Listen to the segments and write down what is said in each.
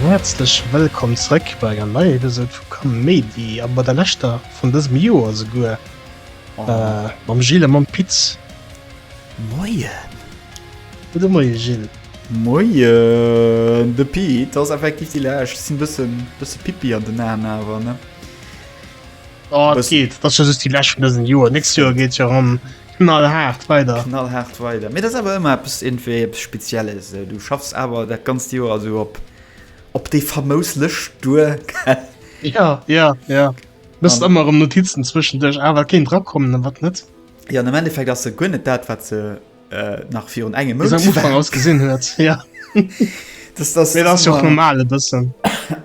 Häerzlech wëllkomm zrëck bei enger neier Episode vu Kaméidi, a bei der leschter vun dësem Joer esouguer, mam Gilles a mam Piz. Moien! Gudde Moie Gilles! Moien, de Pete ass effektiv déi Lescht. Ech sinn bëssen, bësse Pippi an den Aan awer, ne? Oh, et geet. Dat ass jo just déi Lescht vun dësem Joer. Nächst Joer geet jo erëm knallhaart weider. Knallhaart weider. Mee dat ass awer ëmmer eppes, iergendwéi eppes Spezielles. Du schaffs awer dat ganzt Joer esou op, op déi famous Lëscht duer, gell? Ja, ja, ja. Muss ëmmer erëm Notizen zwëschenduerch awer kéint drakommen, an wat net. Jo, an am Endeffekt ass se guer net dat, wat se nach virun engem Mount Am Ufank aus gesinn huet ja. das, das, nee, das das normale bëssen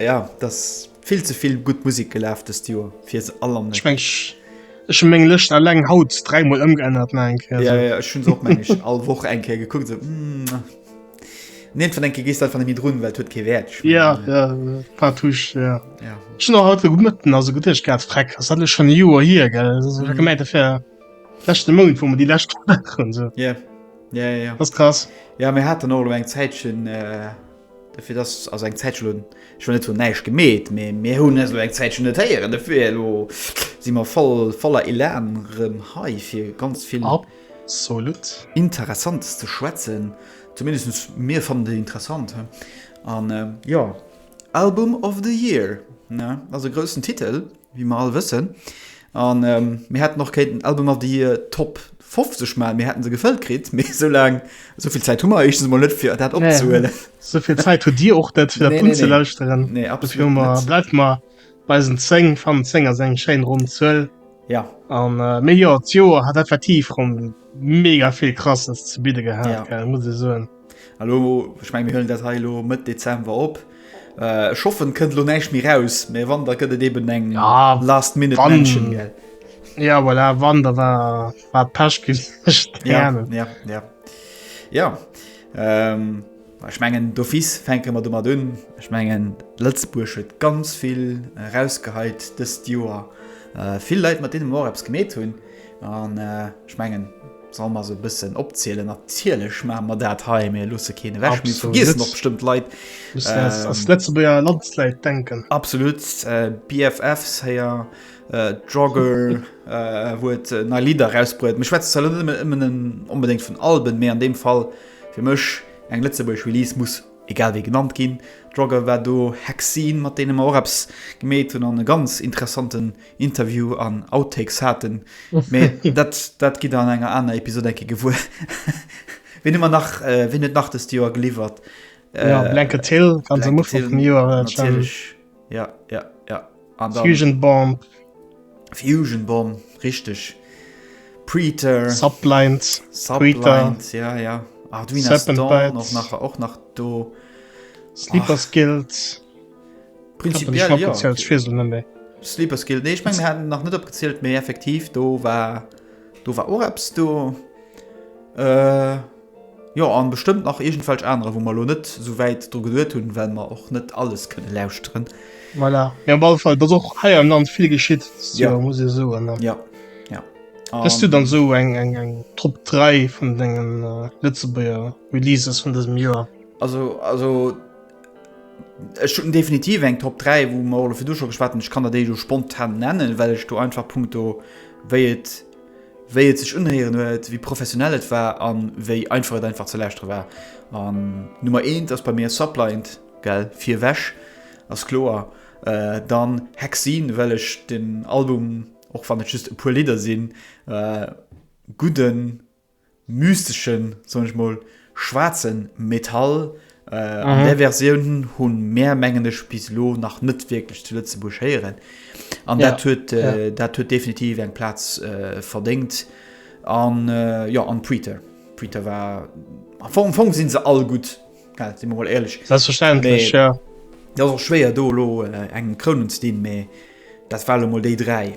ja das vill ze vill gut Musik gelaf des Joer fir se all am Schwensch Ech hun meng Lëcht alleng haut dräimol ëmgeännert ne eng ja, ja, hun och meng all woch eng Kä gekuckt se mm, Neet vun enke gest van dem Drun, well huet ke wäert Ja paar Tuch haut gëtten as gut Ech gat freck as alle schon Joer hier gell gemeint. Lechte Mount wou mer déi lescht waren se. Ja ja ja ass krass. Ja mir haten och lo eng Zäitchen äh, fir dass ass eng Zäitchen lo schon net hunn näischt gemeet, mee mir hunn eso eng Zäitchen net héieren. Dofir lo si mer voll voller Elan rëm hei fir ganz vill absolut Interessantes ze schwätzen. Zumindest mir fannen déi interessant he an jo Album of the year ne ass e groussen Titel. wéi mer all wëssen, a mir hätten och kéinten Alben mat déi Top 50 maachen, mir hätte se gefëllt kritt, mee esou laang, esou vill Zäit hu mer éischtens emol net, fir dat opzehuelen. Nee, esou vill Zäit hutt Dir och net, fir dat unzelauschteren. Nee, absolut net. Dofir bleift mer bei eisen 10, fannen 10 ass eng schéin ronn Zuel. Ja. A mee jo, d'Joer hat effektiv rëm mega vill Krasses ze bidde gehat, gell, muss ee soen. Elo, ech mengen, mir huelen dat hei elo Mëtt Dezember op. Ech hoffen, et kënnt elo näischt méi raus, mä wann, da gëtt et eeben eng Last-Minute-Mention, gell? Ja, voilà, wann, da war et Pech gewiescht. Ja, ja, ja. Jo, ech mengen, d'office fänke mer domat un. Ech mengen, Lëtzebuerg huet ganz vill erausgeheit dëst Joer, vill Leit, mat deene mer och eppes gemeet hunn. An ech mengen, solle mer se e bëssen opzielen? Natierlech maache mer dat hei. Mir loosse keen ewech. Mir vergiessen och bestëmmt Leit. Ass Lëtzebuerger Landsläit denken. Absolut. BFFs héier. Jogger huet nei Lidder erausbruet. Mir schwätzen zwar net ëmmer onbedéngt vun Alben, mee an deem Fall fir mech eng lëtzebuergesch Release muss egal wéi genannt ginn. Jogger war do, Hexene, mat deene mer och eppes gemeet hunn an e ganz interessanten Interview an Outtakes haten, mee dat dat gidd der an enger aner Episode eng Kéier gewuer. Ween hu mer nach, ween huet nach dest Joer geliwwert? Ja, Blanket Hill ganz am Ufank vum Joer natierlech. Ja, ja, ja. An dann. Fusion Bomb. Fusion Bomb, richteg. Preeter. Subblind. Subblind, Preeter. ja, ja. Arduino Serpent Storm, Bites. och nach, och nach do. Sleeper's Guild. Prinzipiell ja. Sleeper Skill nee, ich mein, hat nach net opgezielt méi effektiv do war do war Oreps do äh, Jo an bestëmmt nach egent falsch anere, wo man lo net sou wäit dru geduet hunn, well man och net alles kënne lauschteren. Voilà. Ja, Fall was och heier am Land vill geschitt ja. ja, muss so an ja. ja. Hast du dann so eng eng eng Trupp 3 vun dengen äh, Lëtzebuer Releases vun dësem Joer? Also also Ech hunn definitiv eng Top 3, wou mer och virdu scho geschwat hunn. Ech kann der déi do spontan nennen, well ech do einfach punkto wéi et wéi et sech unhéieren huet, wéi professionell et war an wéi einfach et einfach ze lauschtere war. An Nummer eent ass bei mir Subliant, gell, fir ewech, ass kloer. Dann Hexene, well ech den Album, och wann et just e puer Lidder sinn, gudden mysteschen, soen ech mol, schwaarzen Metall. Äh, an där Versioun hunn mär, mengen ech, bis elo nach net wierklech zu Lëtzebuerg héieren. An Ja, dat huet, ja. äh, dat huet definitiv eng Plaz äh, verdéngt. An äh, jo, an Preater. Preater war, am Fong, am Fong sinn se all gutt, gell, si mer mol éierlech. Selbstverständlech, Mee- ja. Dat ass och schwéier do elo äh, engem Krounen ze dinn, mee dat war elo mol déi dräi.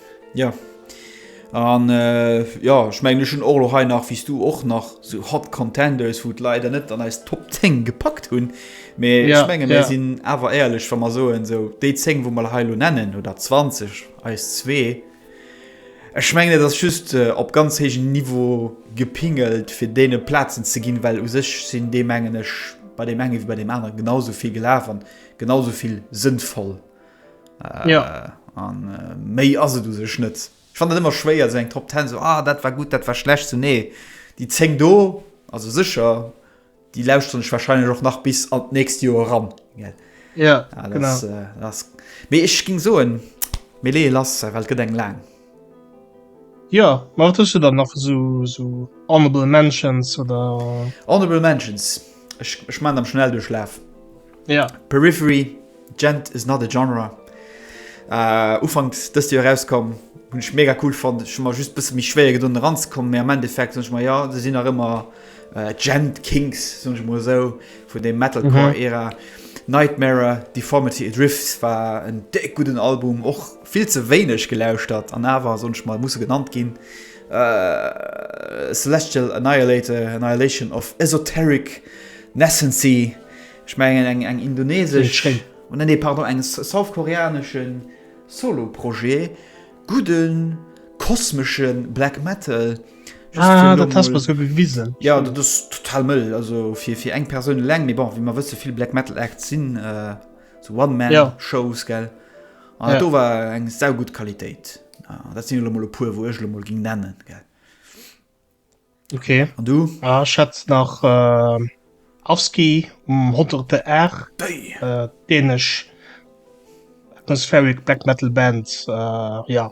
Ja. An äh, ja ech meng schon och hei nach wies du och nach so hot Contenders wot leider net an eis Top 10 gepackt hunn. Me ja, ich menge mir ja. sinn awer eierlech wann man soen so déi 10 wo mal heilo nennen oder 20 eis zwee. Ech menge dat just äh, op ganz hegen Niveau gepingelt fir dee Plazen ze ginn, well u sech sinn dee mengen ech bei dem enge wie bei dem anderen genauso viel gelaf an genauso viel sinnvoll Äh, ja. An äh, méi ass et du sech net. Ich fand dat immer schwéier se eng Top 10 so ah, dat war gut, dat war schlecht zu so, nee. Déi zeng do also sicher die lauscht hunch wahrscheinlich och nach bis an näst Jo ran. Ja, ja das, äh, das, ich ging so en Melee lass, well gët eng lang. Jo, ma wat hues du dann nach esou esou honorable mentions oder? Honorable mentions, ech ech maachen am Schnelldurchlaaf. Ja. Periphery, Djent is not a genre. Ufanks dëst Joer erauskomm, hunn ech mega cool fonnt. Ech hu mer just bësse méi schwéier gedoen eranzekommen, mee am Endeffekt soen ech mer, jo, se sinn nach ëmmer Djent Kings, soen ech mol esou, vun dem Metalcore-Ära. Nightmare, Deformity Adrift war en déck gudden Album, och Vill ze wéineg gelauschtert an awer soen ech mol, musse genannt ginn, Celestial Annihilator, Annihilation of Esoteric Nascency, ech mengen eng eng indonesesch, nee nee pardon, eng south-koreanesche Solo-Projet, gudde kosmesche Black Metal, just fir elo mol, jo dat ass total mëll, also fir fir eng Persoun eleng, mee bon wéi mer wësse vill Black Metal Acts sinn. So one man ja. shows gell an ja. do war eng sau gut Qualitéit ah, dat sinn mol puer wou ech mol ging nennen gell okay an du ah, schätz nach äh, Afski um hoterte Ä äh, dänesch atmospheric black metal Band äh, ja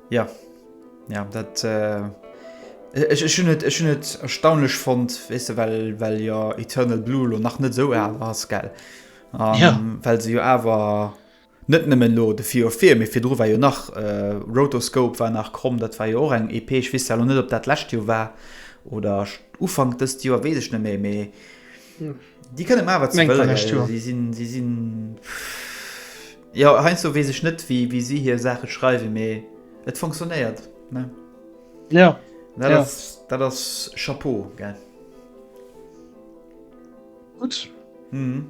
Ja, ja dat ech hunn et ech hunn et erstaunlech fonnt, weess de well well jo Eternal Blue lo nach net sou al ass gell um, ja. well se jo awer net nëmmen lo de fir fir mé fir dru war jo nach äh, Rotoscope war nach kromm, dat war jo och eng EP ech wis net op dat lächt jo war oder ufang dëst Joer wees ech net méi méi. Déi kënne mar wat sinn Ja heinsdo wees ech net wéi wéi si hir Saache schreiwe méi et funktionéiert Ja dat ass Chapeau ge Gutt mhm.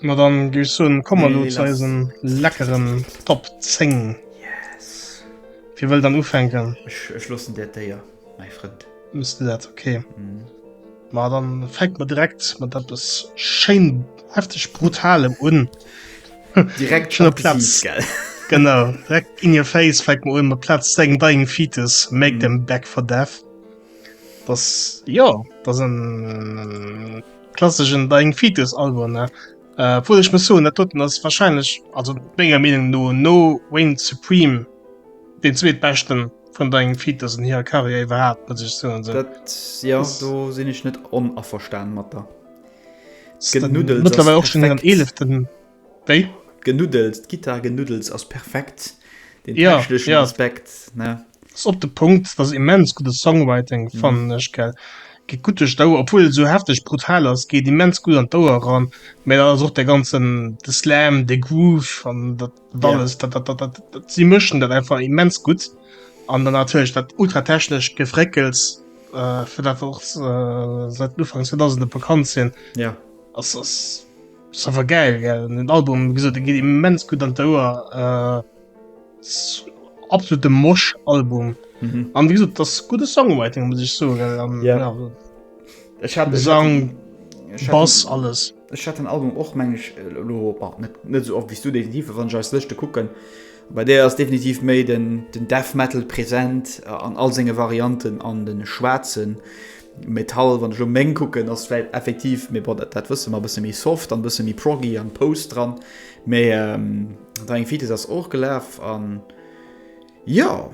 Ma dann gi so kommmer lo ze eisen leckeren Top 10 yes. Wie wëll dann ufänken? Ech schlossen Dir d'Éier mei Frënd. Muss dat okay. Mhm. Ma dann fängt man direkt mat eppes schéin heftig brutalem un. direkt schon Platz gell. genau direkt in your face fängt man un mat Platz deng dying fetus make mm. them back for death. Das ja das en klassischen dying fetus Album ne. Äh, wo ich mir so net toten das wahrscheinlich also mega Meinung no no Wayne Supreme den zweetbeschten vun dengem Feed, dass en hire Karriär iwwerhaapt mat sech zoen soll. Dat, ja, do sinn ech net onaverstan mat der. Genuddels ass Mëttlerweil och schon an perfekt. eeleften. Wéi? Genuddels, d'Gitarre genuddels ass perfekt. Den Ja, techneschen ja. Aspekt, ne? Ass op de Punkt, dass immens guddes Songwriting, fannen ech, gell. Geet gutt duerch d'Ouer, obwuel et esou hefteg brutal ass, geet immens gutt an d'Ouer eran, mä dann ass och dee ganzen, de Slam, de Groove an dat, alles yeah. dat, dat, dat, dat, sie mëschen dat einfach immens gut an dann natürlich dat ultratechnisch gefréckels äh, fir dat och äh, seit Ufangs 2000 bekannt sinn ja yeah. war geil gell? den Album gesagt, geht immens gut an der äh, absolute Mosch Album mhm. an wie gesagt, das gute Songwriting muss ich so yeah. ja, ich habe Gesang Bass alles. Ech hat den Album och, mengen ech, elo net esou oft wéi s du definitiv, a wann ech eis Lëschte kucken, bei där ass definitiv méi den Death Metal present an all senge Varianten an de schwaarze Metall, wann ech elo meng kucken, ass vläicht effektiv, mee bon, dat wësse mer, e bësse méi soft an e bësse méi proggy an post dran. Mee Dying Fetus ass och gelaf an jo.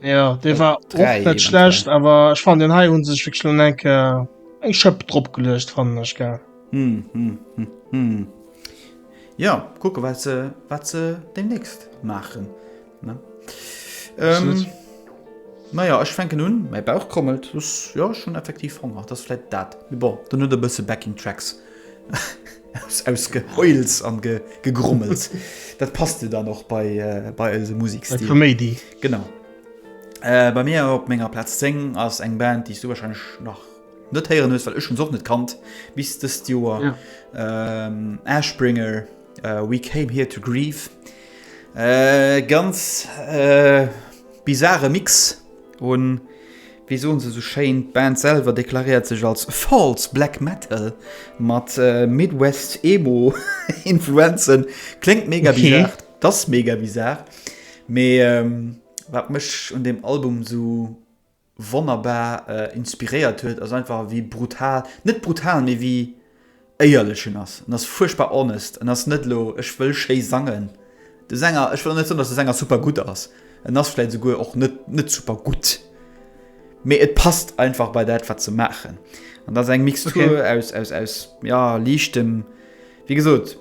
Ja, dee war och net schlecht, awer ech fan den Hai hunn sech virschlon enke eng Schëpp drop gelecht fannnen ech ge. Hm, hm, hm, hm. Ja kucke wat ze wat ze de nächst maachen. Ähm, naja ech fenken hunn mäi Bauch krommelt ja schon effektiv honger, dat fleit dat bon dann huet e bësse backing tracks. Aus Geheults an Gegrummels. Dat passt jo dann och bei eise Musekstil. Bei Koméidi. Genau. Bei mir op menger Plaz 10 ass eng Band, déi s du warscheinlech nach net héieren hues, well ech hunn se och net kannt bis dëst Joer, Ashbringer, We came here to grieve. Ganz bizare Mix u Wéi soen se esou schéin, d'Band selwer deklaréiert sech als False Black Metal mat Midwest Emo Influenzen. Kléngt mega bizarr, okay. T'ass mega bizarr, mee wat mech un deem Album esou wonnerbar inspiréiert huet ass einfach wéi brutal, net brutal, mee wéi. éierlechen ass, en ass fuerchtbar honest, en ass net elo ech wëll schéi sangen, de Sänger, ech wëll och net soen, datt de Sänger super gutt ass, en ass vläit esouguer och net net super gutt, mee et passt einfach bei dat wat se maachen an dat ass eng Mixtur aus aus aus jo liichtem, wéi gesot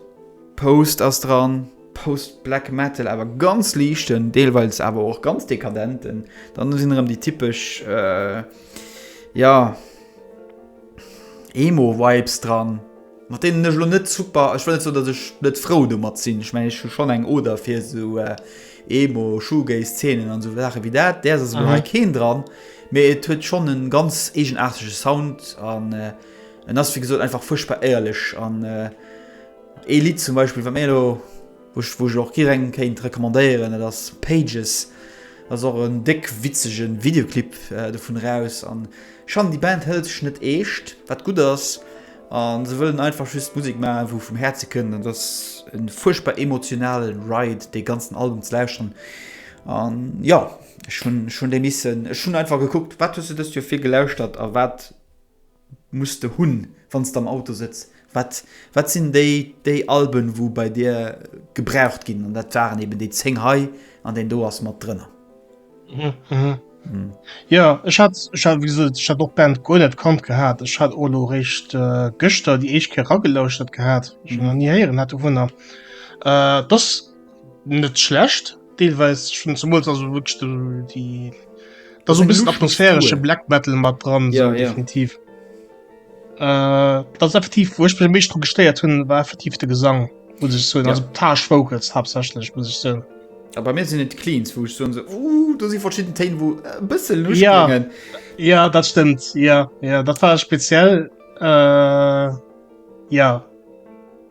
Post ass dran, Post Black Metal awer ganz liichten, deelweils awer och ganz dekadenten, dann sinn erëm déi typesch jo. Emo Vibes dran, mat deenen ech elo net super, ech wëll net soen dat ech net frou domat sinn, ech mengen ech hu schonn eng Oder fir esou Emo, Shoegaze Zeenen an esou Saache wéi dat. Däers ass elo hei keen dran, mee et huet schonn en ganz eegenaartege Sound an en ass wéi gesot einfach fuerchtbar éierlech an ee Lidd zum Beispill wat mir elo, Wou ech och jiderengem kéint recommandéieren, dat ass Pages, ass och en déck witzege Videoclip dovun eraus. An schonn, déi Band hëlt sech net eescht, wat gutt ass, a se wëllen einfach just Musek maachen, wou vum Häerze kënnt. An et ass e fuerchtbar emotionale Ride, dee ganzen Album ze lauschteren. An jo, ech hunn déi missen, ech hunn einfach gekuckt, wat hues du dëst Joer vill gelauschtert a wat muss de hunn wann s de am Auto sëtz? Wat wat sinn déi déi Alben wou bei dir gebraucht ginn an dat waren eben déi 10 hei an deen do ass mat drënner. Jo ech hat ech hat wéi gesot ech hat och d'Band guer net kannt gehat. Ech hat och elo réischt gëschter déi éischt Kéier eragelauschert gehat. Ech hunn nach ni héieren hat dovunner. T'ass net schlecht. Deelweis schon zumools also wirklich de, die da so bis atmosphärische cool. Black metalal mat dran ja, so, ja. definitiv äh, das effektiv wo ich mich drum gesteiert hun war effektiv de Gesang muss ich so ja. also Tasch Vocals hauptsächlich muss ich so aber mir sind net cleans wo ich so, so uh, du sie verschiedene Teen wo äh, bisschen Lust ja bringen. ja das stimmt ja ja das war speziell äh, ja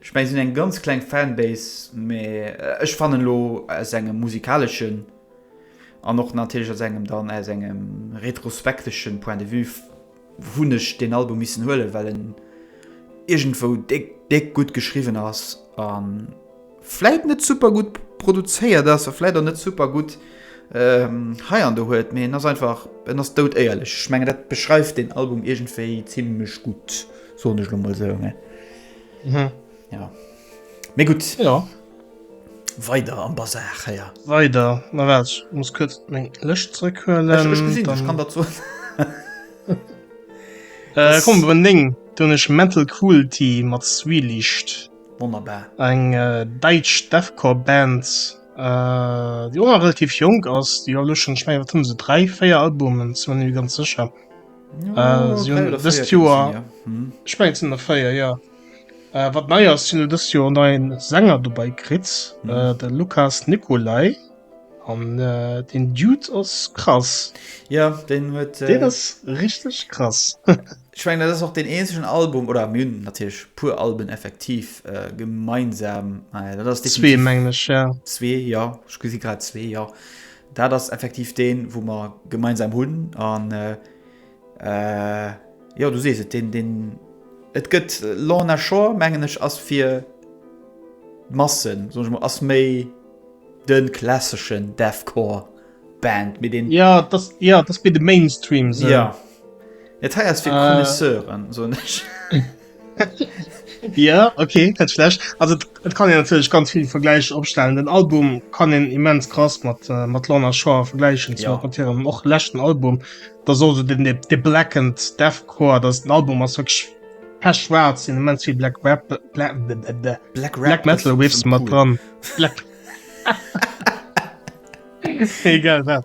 Ech mengen sinn eng ganz kleng Fanbase, mee ech fannen elo aus engem musikaleschen an och natierlech aus engem dann aus engem retrospekteschen Point de Vue hunn ech deen Album missen huelen, well en iergendwou déck déck gutt geschriwwen ass a vläit net super gutt produzéiert ass a vläit och net super gutt hei an do huet, mee en ass einfach, en ass dout éierlech. Ech mengen dat beschreift deen Album iergendwéi zimlech gutt, soen ech elo mol esou. Mhm. Ja. Mee gutt. Ja. Weider am Bazar héier. Weider. Na wat, ech muss kuerz meng Lëscht zrëckhuelen. Ech, ech gesinn, ech kann dat soen. äh, komm, iwwer en Ding. Do hunn ech Mental Cruelty mat Zwieliicht. Wonnerbar. Eng äh, däitsch Deathcore-Band, äh, déi och nach relativ jonk ass. Déi hu elo schonn, ech mengen, wat hunn se, dräi, véier Albumen, sinn mer net méi ganz sécher. Äh, si hunn dëst Joer, ech mengen et sinn der véier, jo. Wat nei ass, si hunn dëst Joer nei Sänger dobäi kritt, de Lukas Nicolai an deen Dude ass krass. Jo, deen huet. Deen ass richteg krass. Ech mengen dat ass och deen eenzegen Album, oder mir hunn natierlech e puer Alben effektiv gemeinsam, mä dat ass definitiv. Zwee mengen ech, jo. Zwee, jo, ech gesi grad zwee, jo. Dat ass effektiv deen, wou mer gemeinsam hunn. An jo, du sees et, deen, deen et gëtt Lorna Shore, mengen ech, ass fir d'Massen, soen ech mol, ass méi de klasseschen Deathcore Band, mee deen. Jo, dat ass, jo, dat ass méi de Mainstream esou. Jo. Dat hei ass fir Connoisseuren, soen ech. Ja okay net schlecht. Also et et kann een natierlech ganz vill Vergläich opstellen. Den Album kann een immens krass mat äh, mat Lorna Shore vergläichen Ja. mat hirem och leschten Album. Da soll se den de de Blackened Deathcore, dats den Album ass wierklech pech schwaarz, sinn immens vill Black Rap Bla bla bla bla Black Rap Black Metal ass Riffs schon mat cool. dran. Black Egal wat.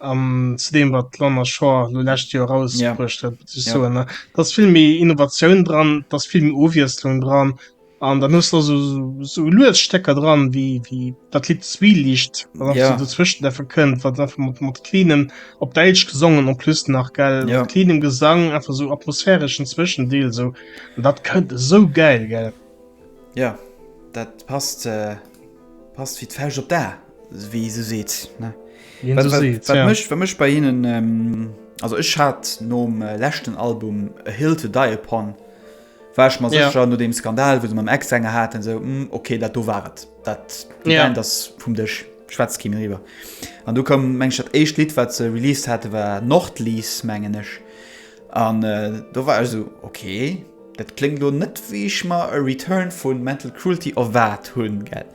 An zu dem wat Lorna Shore lo lescht Joer rausbruecht huet, muss ech soen, da ass vill méi Innovatioun dran, da ass vill méi Ofwiesslung dran. An dann hues de also sou lues Stécker dran, wéi wéi dat Lidd Zwieliicht, wat einfach sou dozwëschent einfach kënnt, wat einfach mat mat cleanem, op däitsch gesongen en plus nach, gell, mat cleanem Gesang, einfach sou atmosphäreschen Zwëschendeel sou. An dat kënnt esou gäil, gell. Jo, dat passt. Passt wéi d'Fauscht op d'A, wéi ee sou seet, ne? Wéi een sou seet, ja. Wat mech, wat mech bei hinnen, also ech hat nom leschten Album A Hill To Die Upon, war ech mer sécher, no deem Skandal, wou se mam Ex-Sänger haten, sou, okay, dat do war et. Dat, déi Band ass vum Dësch, schwätzt keen eriwwer. An du koum, mengen ech, dat éischt Lidd, wat se released hate war Nordlies, mengen ech. An do war ech esou, ok, dat kléngt elo net wéi ech mer e Return vu Mental Cruelty erwaart hunn, gell.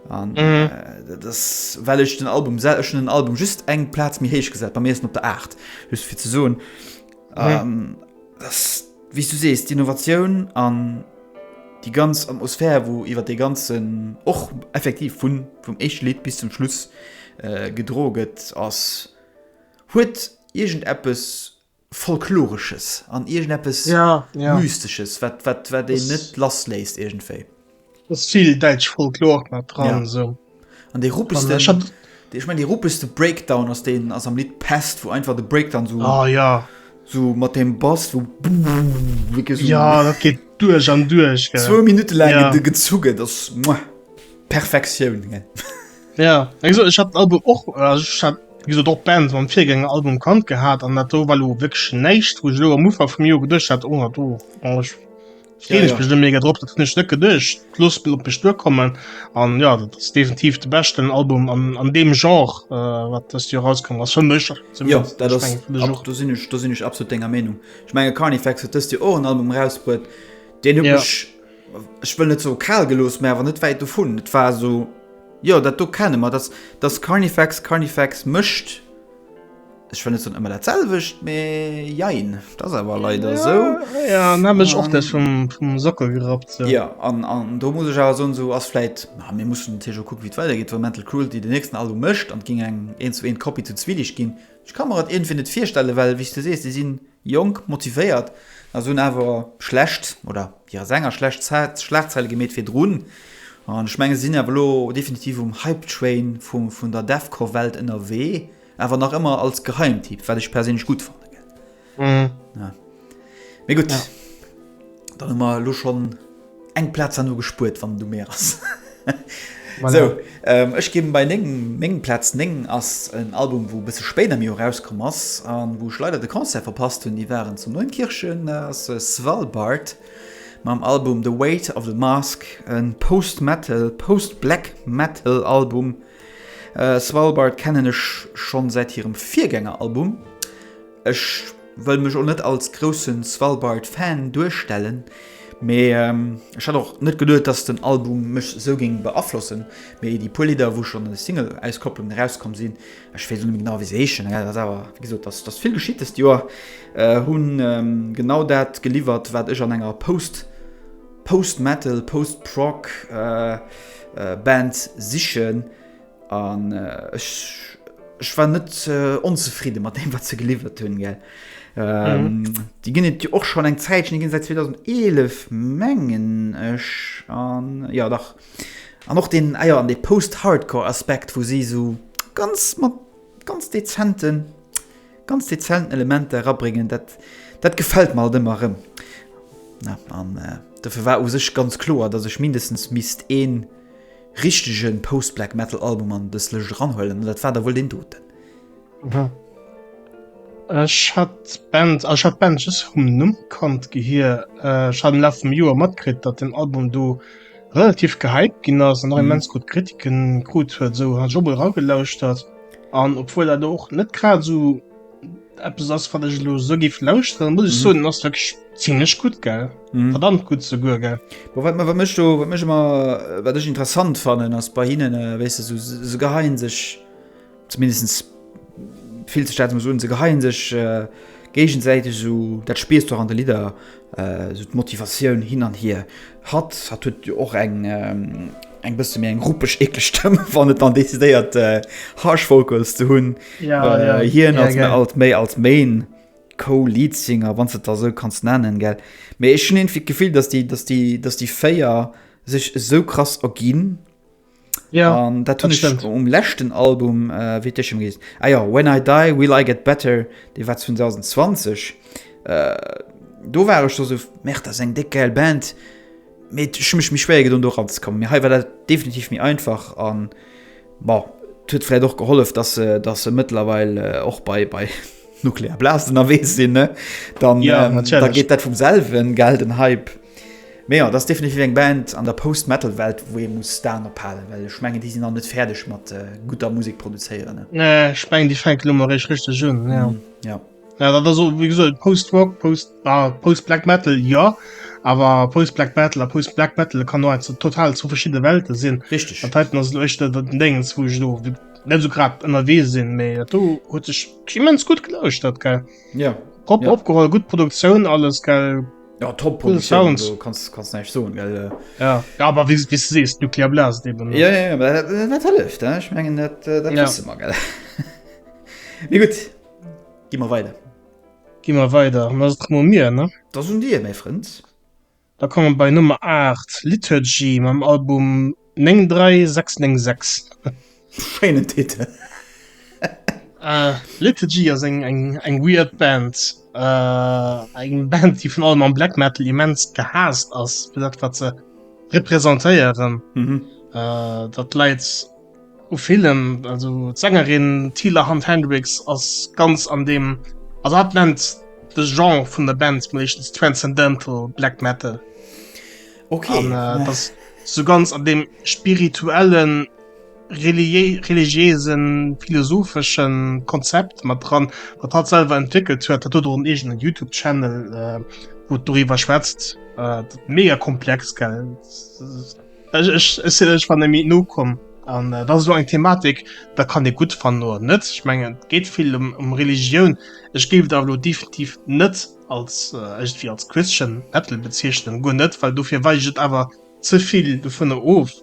An mm. äh, das, well ech den Album sel schon den Album just eng Platz mir héich gesat, bei mir op der 8 just fir ze soen. Mm. Ähm, das, wie du sees d'Innovatioun an die ganz Atmosphär wo iwwer de ganzen och effektiv vun vum Echlied bis zum Schluss äh, gedroget ass Huet iergend eppes Folkloresches an iergend eppes Mystesches, wat een net lass léisst iergendwéi. Ass vill däitsch Folklor mat dran esou. An dee ruppegsten, ech mengen dee ruppegste Breakdown ass deen ass am Lidd Pest, wou einfach de Breakdown esou, esou mat deem Bass wou wierklech esou. Jo, dat geet duerch an duerch. Zwou Minutte laang gezu gëtt, ass perfektioun. Ja also, ich hab Album och wieso doch Band am virgänge Album kant gehabt an dat do weil lo wirklich näicht wo ich lo am Ufer vum Jo gedurcht hat oh, do oh, ich Ja, ja. bestimmt mega drop dat hunn ech net gedurcht plus op bech duerkommen an ja dat ass definitiv de beschten Album an, an dem Genre äh, wat dëst Joer rauskommen ass fir mech Ja, zumindest. dat Ich ass, mengen, fir mech ab, och. do sinn ech, do sinn ech absolut denger Meenung. Ech menge Carnifex huet dëst Joer och en Album erausbruet, deen huet Ja. mech, ech wëll net soe kal gelooss, mä awer net wäit dovun. Et war esou, jo, dat do kenne mer, dass, dass Carnifex Carnifex mécht, ech wëll net soen ëmmer datselwecht, mä jein, et ass awer leider esou. Jo, jo, an hat mech och deck vum, vum Sockel gerappt, sou. Jo, an, an do muss ech awer soen, esou ass vläit, ma mir mussen natierlech och kucken, wéi et weidergeet, wa Mental Cruelty den nächsten Album mécht an et géing eng Eent-zu-Eent-Kopie zu Zwilich ginn. Ech ka mer et iergendwéi net virstellen, well, wéi s de sees, déi sinn. Jonk, motivéiert a si hunn awer schlecht, oder hirer senger schlecht Zäit, Schlagzeile gemeet virdrun. An ech mengen, si sinn awer elo definitiv um Hype Train vun der Deathcore Welt ënnerwee, awer nach ëmmer als Geheimtipp, wat ech perséinlech gutt fannen. Mee gutt, dann hu mer elo schonn. Eng Platz han no gespuert wann du mé ass. Sou ech gin bei 9, meng Platz 9 ass en Album wou besse spéit am Joer rauskomm ass an wou ech leider de Concert verpasst hun. Déi waren zu Neunkirchen, ass Svalbard mam Album The Weight of the Mask, en Post Metal, Post Black Metal Album. Svalbard kennen ech schon säit hirem Virgänger Album. Ech wëll mech och net als grousse Svalbard-Fan duerstellen, mee ech hat och net geduet, dass den Album mech esou géing beaflossen. Mee déi puer Lidder, wou schonn Single-Auskopplungen erauskomm sinn, ech weess elo net méi genau, wéi se heeschen, dat ass awer, wéi gesot, et ass vill geschitt dëst Joer, hu genau dat geliwwert, wat ech an enger Post-Post-Metal, Post-Prog Band sichen. An ech war net onzefridde mat deem wat ze geliwwert hunn ge. Ähm, Di ginn et och schon eng Zäit ginn seit 2011 mengen ech an ja dach an och den Äier ah an de post-hardcore Aspekt, wou si sou ganz mat ganz dezenten ganz dezenten Elemente erabréngen, dat dat gefällt mal dëmmer rëm. An äh, dofir war u sech ganz kloer, datt ech mindestens mist een richtegen Post-Black Metal Album an dës Lëscht eranhuelen an dat war da wuel deen doten. Aha. Ech hat d'Band, also ech hat d'Band just vum Numm kannt, Gehir. Ech hat am Laf vum Joer matkritt, datt den Album do relativ gehypt ginn ass an och mhm. immens gutt Kritiken krut huet, esou hat ech och mol eragelauschtert an obwuel dat och net grad esou eppes ass wat ech lo sou giff lauschteren, muss ech mhm. soen ass wirklich ziemlich gut gell mhm. verdammt gut ze gu gell wat man mech du wat mech immer äh, wat ech interessant fannen ass bei hinnen äh, wéi se so, so geheien sech zumindest viel ze staat muss un ze geheien sech äh, gegensäite so dat spiest doch an de lieder Esou d'Motivatioun hin an hier. Hatt, hatt huet jo och eng, eng bësse méi eng ruppeg, eekleg Stëmm, wann et dann decidéiert Harsh Vocals ze hunn. Ja, ja. Hien ass mir alt méi als Main Co-Leadsinger, wann s de et da esou kanns nennen, gell. Mee ech hunn iergendwéi d'Gefill, datt déi, datt déi, datt déi véier sech esou krass erginn. Ja, um, dat hunn ech um lächten Album äh, wéi d'Echem gees. Ah ja, When I die will I get better, dee war 2020. Äh, do war ech so so Mer ass eng déck geil Band. Met ech mech mech schwéier gedon do ranzekommen. Mir hei war dat definitiv méi einfach an bon, huet fläit och gehollef, dat se dat se mëttlerweil äh, och bei bei nuklear Blasen erwee sinn ne dann Ja, ähm, da natürlich. geet dat vum selwen gell den Hype. Mee jo, et ass definitiv eng Band an der Post-Metal-Welt, wou ee muss d'Aen op halen, well ech mengen, déi sinn nach net fäerdeg mat gudder Musek produzéieren. Nee, ech mengen, déi fänken elo eréischt richteg un. Jo. Jo, dat ass och, wéi gesot, Post-Rock, Post, ah, Post-Black Metal, jo. Awer Post-Black Metal a Post-Black Metal kann och eins, total zwou verschidde Welten sinn. Richteg. Dat heiten ass elo echt dat, dat Déngens, wou ech elo net esou grad ënnerwee sinn, mee dat do huet sech immens gutt gelauschtert, gell? Jo. Proper opgeholl, gutt Produktioun, alles, gell? Ja, top cool Sounds. Also, kannst, kannst nicht so, gell? Äh. Ja, ja aber wie, wie du siehst, Nuclear Blast eben. Ja, ja, aber das, äh, das hilft, ne? ich meine, das, äh, das ja. wissen wir, gell? Wie gut, gehen wir weiter. Gehen wir weiter, und das ist mal mir, ne? Das sind die, mein Freund. Da kommen wir bei Nummer 8, Liturgy, meinem Album 93696. Schéinen Titel. Liturgy ass eng weird Band. Eng Band, déi vun allem am Black Metal immens gehaasst ass, fir dat wat se representéieren. Dat läit u villem. Also d'Sängerin Tila Hunt Hendricks ass ganz an deem, also hatt nennt de Genre vun der Band meeschtens Transcendental Black Metal. Okay. An, äh, das so ganz an dem spirituellen, relié religiösen, philosophischen Konzept mat dran, wat hat selber entwickelt huet, dat huet och en eegenen YouTube-Channel, äh, wo et doriwwer schwätzt. Äh, mega komplex, gell? Ech, ech, ech, ech war nämlich nokomm. An äh, das ist so eng Thematik, da kann dir gut fannen oder net. Ich mengen, et geht viel um, um Religion. Ech géif da lo definitiv net als ëgtwéi als Christian Bettel bezeechnen, guer net, well dofir weich et awer ze vill dovunner of.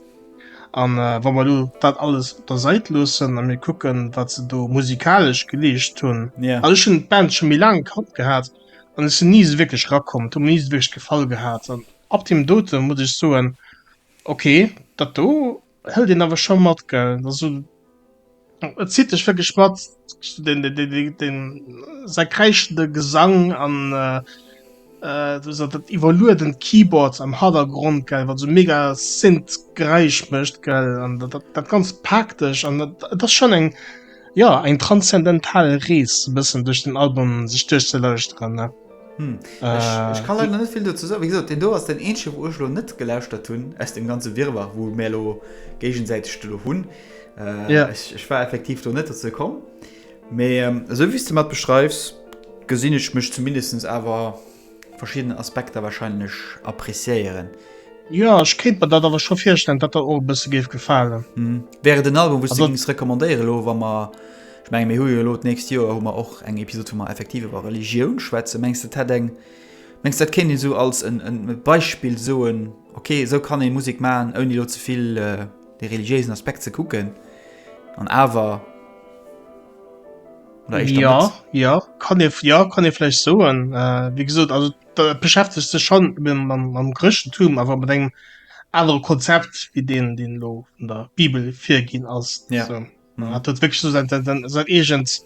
An wa mer elo dat alles op der Sait loossen a mir kucken wat se do musikalesch geleescht hunn, also ech hunn d'Band scho méi laang am Kapp gehat an ech sinn ni esou wierklech rakomm, et huet mer ni esou wierklech gefall gehat an ab deem dote muss ech soen, ok dat do Et hëlt een awer scho mat, gell? Also et zitt dech wierklech mat, säi kräischende Gesang an esou dat iwwerluedent Keyboard am Hannergrond, gell, wat esou mega Synth-Geräisch mécht, gell, an dat Ganzt paakt dech. An et ass schonn eng, jo, eng transzendental Rees e bëssen duerch den Album sech duerchzelauschteren. Hm. Äh, ech kann leider net vill dozou soen. Wéi gesot, den do ass den eenzege, wou ech lo net gelauschtert hunn aus dem ganze Wirrwarr, wou mir lo géigesäiteg do hunn. Äh, ja. ech, ech war effektiv do net dozou komm. Mä ähm, esou wéi du mat beschreifs, gesinn ech mech zumindest awer verschiedene Aspekter wahrscheinlech appréciéieren. Ja, ech kritt mir dat awer scho virstellen, dat der och e bësse géif gefalen. Hm. Wäre den Album, wou du recommandéiere lo, wa mer Ech mengen mir hu jo elo d'nächst Joer hu mer och eng Episode wou mer effektiv iwwer Religioun schwätzen. Mengs de dat hätt eng, mengs de dat kéint een esou als en en Beispill soen, ok esou kann ee Musek maachen ouni elo ze vill de religiéisen Aspekt ze kucken an awer, oder éischter net? Jo, jo kann ee, jo kann ee vläicht soen. Wéi gesot also et beschäftegt sech schonn mam mam Chrëschtentum awer mat engem anere Konzept wéi deen deen elo vun der Bibel virginn ass. En hat huet wécklech esou säin eegent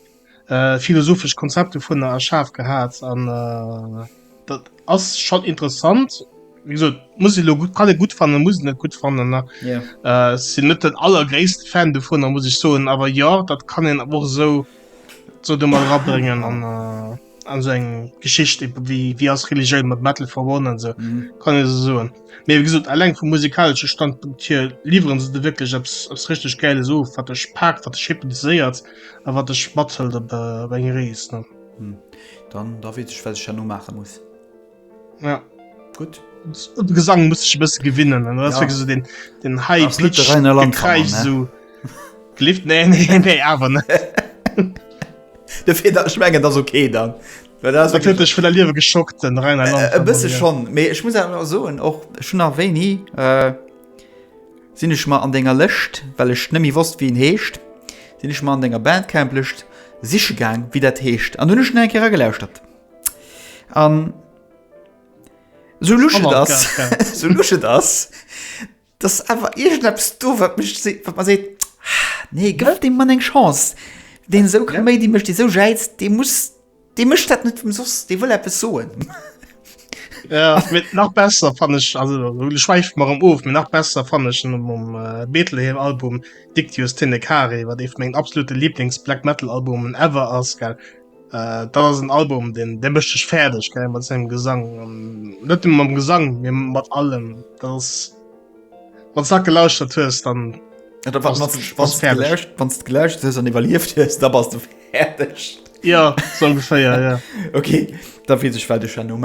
philosophescht Konzept dovunner erschaf gehat an dat ass schonn interessant. Wéi gesot, muss elo gutt, kann ee gutt fannen, muss net gutt fannen. Sinn net den allergréissten Fan dovunner, muss ech soen, awer jo, dat kann een awer och esou, esou do mat erabréngen an. an seng Geschicht wie ass Religioun mat Metal verbonnen an se kann se soen. Mee wie gesot alleng vum musikalsche Standpunkt hier lieferen se de wirklich abs abs richtig geile so wat dech pakt wat schippen séiert a wat dech mathëlt op eng Rees ne. Dann da wees ech wat ech herno maache muss. Ja. Gut. De Gesang muss ich bësse gewinnen ja. so den, den Hai Kreich so Lift ne nee, nee, awer ne. De fir dat schmengen ass okay dann. Datch vun der Liewe geschockt den Rhein äh, äh, bësse schon. Mee ich muss soen och schon a wéini äh, sinn ech mal an denger Lëcht, well ech nëmi wosst wien heescht, sinn ich mal an denger Bandcamp lecht sichgang wie dat heescht. An hunnech en enke gelauschtert. An so lusch et ass, so lusch et ass, dass awer iergendeppes do, wat mech se-, wat mer seet, Nee, gëff deem Mann eng Chance. Deen esou Kaméidi mécht, dee esou jäizt, dee muss, dee mécht dat net ëmsoss, dee wëll eppes soen. Jo, mee nach besser fann ech, also elo schwäife mer erëm of, mee nach besser fann ech en um Betlehem-Album Dictius Tenecae, wat ee vu mengen absolute Liiblings-Black-Metal-Albumen ever ass, gell. Äh, dat ass en Album, den dee mécht dech fäerdeg geil mat sengem Gesang. net dem mam Gesang mir mat allem dass wat sag gelauschtert hues dann wann gelauscht hues an iwwerlieft hues da bas du fäerdeg. Ja so ungefähr ja, ja. okay da fiel sech well de Chano.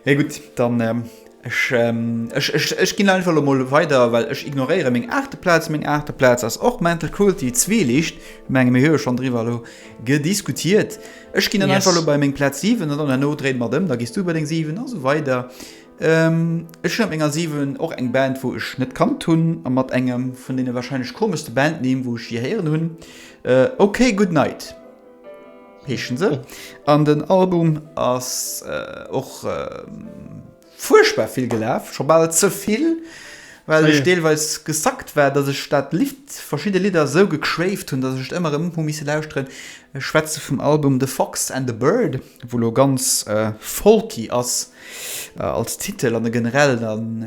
Hey, gut dann. Ähm Ech ginn einfach elo mol weider, well ech ignoréiere meng aachte Plaz. Meng aachte Plaz ass och Mental Cruelty, Zwieliicht. Ech menge mir hu jo schonn driwwer elo gediskutiert. Ech ginn dann einfach elo bei meng Plaz 7 an dann herno dréine mer et ëm, da gees du bei deng 7 a sou weider. Ech hunn op menger 7 och eng Band, wou ech net kannt hunn a mat engem vun deene warscheinlech komeschste Bandnimm, wou ech jee héieren hunn, OK Goodnight. Heeschen se. An den Album ass och fuerchtbar vill gelaf, scho bal ze vill, well ech deelweis gesackt war, datt ech dat Lidd, verschidde Lidder esou gequäft hunn, datt ech et ëmmer erëm hu misse lauschteren. Ech schwätze vum Album The Fox and the Bird, wou elo ganz folky ass als Titel an e generell dann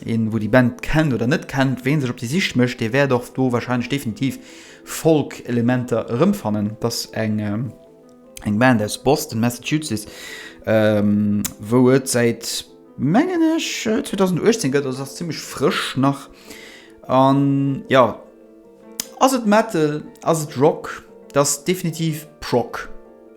een, wou déi Band kennt oder net kennt. Ween sech op déi Sich mécht, dee wäert och do warscheinlech definitiv Folk-Elementer erëmfannen. Et ass eng Band aus Boston, Massachusetts, wou et säit, mengen ech, 2018 gëtt. Also se ass zimmlech frësch nach. An jo, ass et Metal, ass et Rock? Et ass definitiv Prog.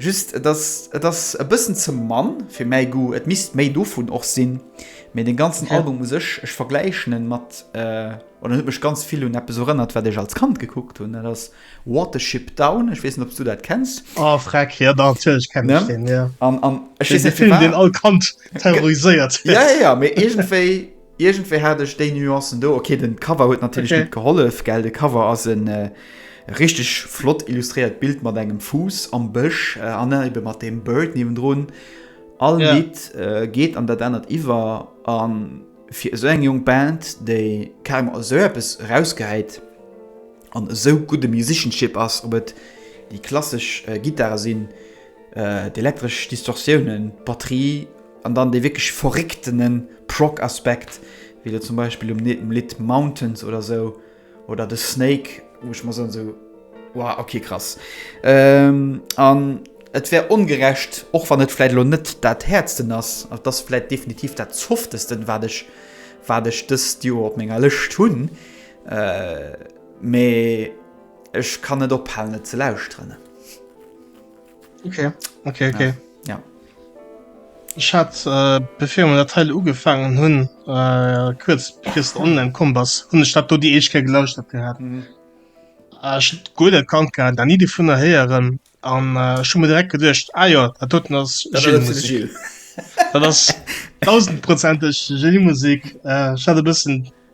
Just et ass et ass e bëssen ze mann fir mäi Goût, et misst méi dovun och sinn. Mee den ganzen Album u sech, ech vergläichen en mat oder en huet mech ganz vill un eppes erënnert wat ech als Kand gekuckt hunn, dat ass Watership Down, ech weess net ob's du dat kenns? Oh freck, jo natierlech kennen ech deen, jo. An an ech weess net firwat. Deen Film deen all Kand terroriséiert huet. Jo jo, mee iergendwéi. Irgendwéi hat ech déi Nuancen do. Okay, den Cover huet natierlech net gehollef, gell? De Cover ass en richteg flott illustréiert Bild mat engem Fuuss am Bësch an ebe mat deem Bird niewendrun. All Lidd geet an dat anert iwwer an fir esou eng jonk Band, déi carrément esou eppes erausgehäit an esou gutt e Musicianship ass, ob et déi klassesch Gittare sinn, d'elektresch Distortiounen, d'Batterie, An dann dee wierklech verrécktene Prog-Aspekt, wéi elo zum Beispill um Lidd Mountains oder sou, oder de Snake, wou ech mer soen, sou wow, ok, krass. An et wär ongerecht, och wann et vläit elo net dat Häertsten ass, et ass vläit definitiv dat Softesten, wat ech, wat ech dëst Joer op menger Lëscht hunn, mee ech kann net ophalen, et ze lauschteren. Okay, okay, okay. Ja. ja. Ich hat äh, befir der Teil ugefangen hunn äh, kurz christ online kom bass hun Stadt do die Eke gelauscht hat gehabt. Mhm. Äh, gut kann da nie die vun der heieren an äh, schon direkt gedcht Eier ah, dat ass 1000 Prozent Musik äh, bisssen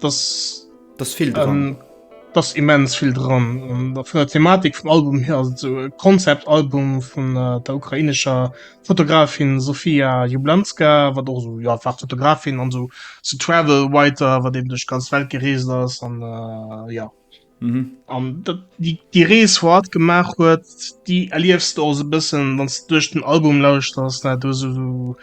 dass dass vill dran dass immens vill dran vun der Thematik vum Album her so Konzeptalbum vun äh, der ukrainescher Fotografin Sofia Jublanska wat och so ja war Fotografin an so zu so travel weiter wat dem duch ganz Welt gereest ass an äh, ja. Mhm. An dat, déi, déi Rees, wou hatt gemaach huet, déi erliefs du och esou e bëssen, wann s du duerch den Album lauschters, ne? Du hues esou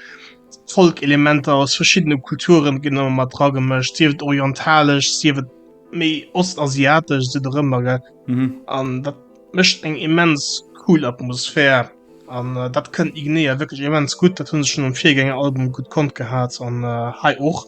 Folk-Elementer aus verschiddene Kulturen ginn ëmmer mat dra gemëscht, sief et orientalesch, sief et méi ostasiatesch, sief et och ëmmer, gell? Mhm. An dat mécht eng immens cool Atmosphär. An dat kënnt Ignea wierklech immens gutt, dat hunn se schonn um Virgänger-Album gutt konnt gehat an hei och.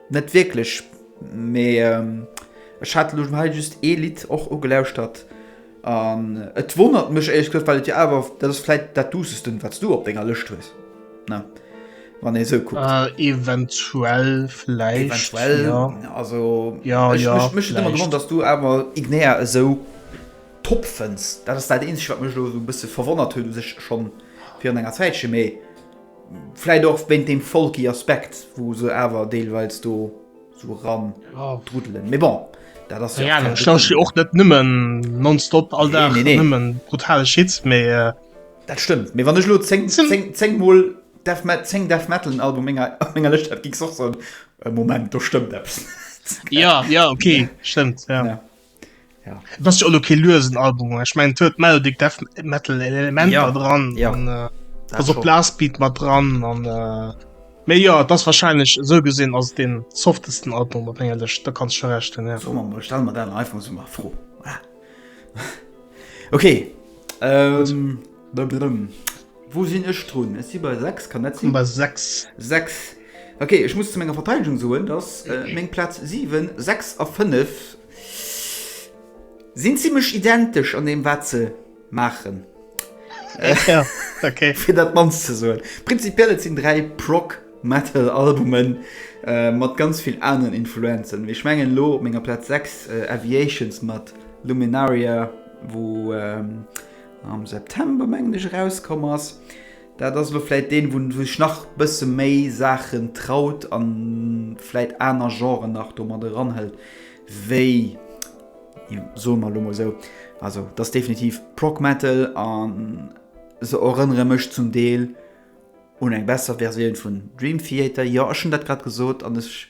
Net wierklech, mee ech hat elo hei just ee Lidd och ugelauschtert an et wonnert mech éierlech gesot, well et jo awer, dat ass vläit dat duussestent wat s du op denger Lëscht hues, ne wann ee esou kuckt? Eventuell, vläicht, jo. Eventuell, also jo, jo, vläicht. Mech huet ëmmer gewonnert, dass s du awer Ignea esou top fënns. Dat ass dat eenzegt wat mech elo esou e bësse verwonnert huet u sech, schonn virun enger Zäitche, mee Vläit och wéint deem folky Aspekt, wou se awer deelweils do sou eran druddelen. Mee bon, dat ass jo. Ja, ech lauschteren jo och net nëmmen nonstop all Dag nëmmen brutale Shit, mee. Dat stëmmt, mee wann ech elo zéng, zéng, zéng mol Death Metal, zéng Death Metal Albume op menger, op menger Lëscht hätt, gings och soen, Moment, do stëmmt eppes net. Ja, ja, ok, stëmmt, ja. ja das ist okay lösen album ich mein tö melodic death metal element ja. dran ja. Und, äh, also blasbeat mal dran und, äh, mehr ja das wahrscheinlich so gesehen aus den softesten album ehrlich da kannst schon recht ja. so, man, stellen wir dann einfach so mal froh ah. okay ähm, Blablablum. Wou sinn ech drun? Ech si bei 6, kann dat sinn? Nummer 6. 6. Ok, ech muss zu menger Verteidegung soen, dass meng Plaz 7, 6 a 5 sinn zimmlech identesch an deem, wat se maachen. Ja, ok. Fir dat mannst ze soen. Prinzipiell, et sinn dräi Prog-Metal-Albumen mat ganz vill aneren Influenzen. Mee ech mengen elo op menger Plaz 6 Aviations mat Luminaria, wou. am September mengen ech erauskomm ass. Dat ass elo vläit deen wou sech nach bësse méi Saachen traut an vläit aner Genren nach do mat eran hëlt wéi soe mer elo mol esou, also et ass definitiv Prog Metal an se erënnere mech zum Deel un eng besser Versioun vun Dream Theater. Jo ech hunn dat grad gesot an ech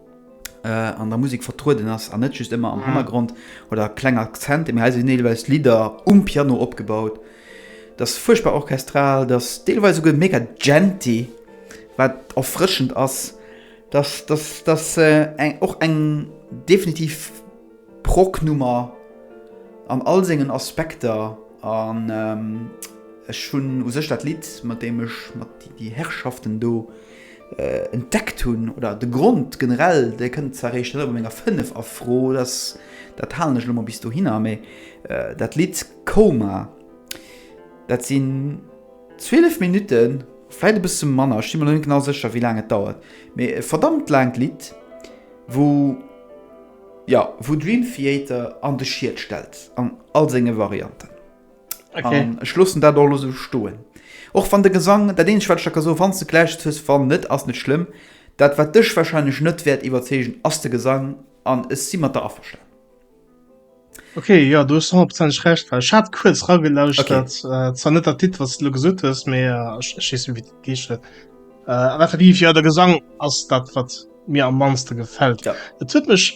an der Musek vertrueden ass an net just ëmmer am Hannergrond oder kleng Akzente, mee hei sinn deelweis Lidder um Piano opgebaut. Dat ass fuerchtbar orchestral, dat ass deelweis esouguer mega djenti, wat erfrëschend ass. Dat ass, dat ass eng, och eng definitiv Prog-Nummer an all sengen Aspekter an ech hunn u sech dat Lidd, mat deem ech, mat déi Herrschaften do, Entdeckt hunn, oder de Grond generell, dee kënnt zwar eréischt elo bei menger 5 a Fro, dass, dat halen ech elo mol bis dohinner, mee dat Lidd Coma, dat sinn 12 Minutten, vläicht e bësse manner, ech si mer elo net genau sécher, wéi laang et dauert, mee e verdammt laangt Lidd, wou, jo, wou Dream Theater an de Schiet stellt an all senge Varianten. Okay. An ech loossen dat och elo sou stoen. Och wann de Gesang, dat eenzegt wat ech der ka soen, wann s de d'gläicht hues, wann net ass net schlëmm, dat wat dech warscheinlech net wäert iwwerzeegen ass de Gesang an ech si mat der averstan. Okay, jo, do hues du honnertprozenteg Recht, well ech hat kuerz ragelauschtert, äh, zwar net dat Lidd, wat s de elo gesot hues, mee äh, ech ech weess net, wéi dat geescht huet. Äh, an effektiv, jo, de Gesang ass dat, wat mir am mannste gefält. Ja. Et huet mech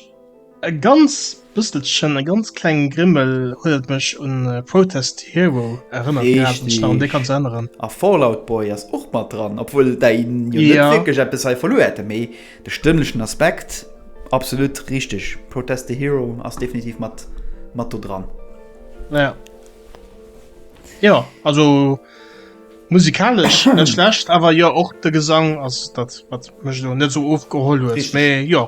E ganz bësselchen, e ganz klengen Grimmel huet et mech un Protest Hero erënnert gehat, wann ech mech nach un dee Ganze erinneren. Richtig! A Fallout Boy ass och mat dran, obwuel dei jo net wierklech eppes hei verluer hätte, mee de stëmmlechen Aspekt, absolut richtig! Protest the Hero ass definitiv mat mat do dran. Ja. Jo, also musikalesch net schlecht, awer jo och de Gesang ass dat wat mech elo net esou ofgeholl huet, mee jo.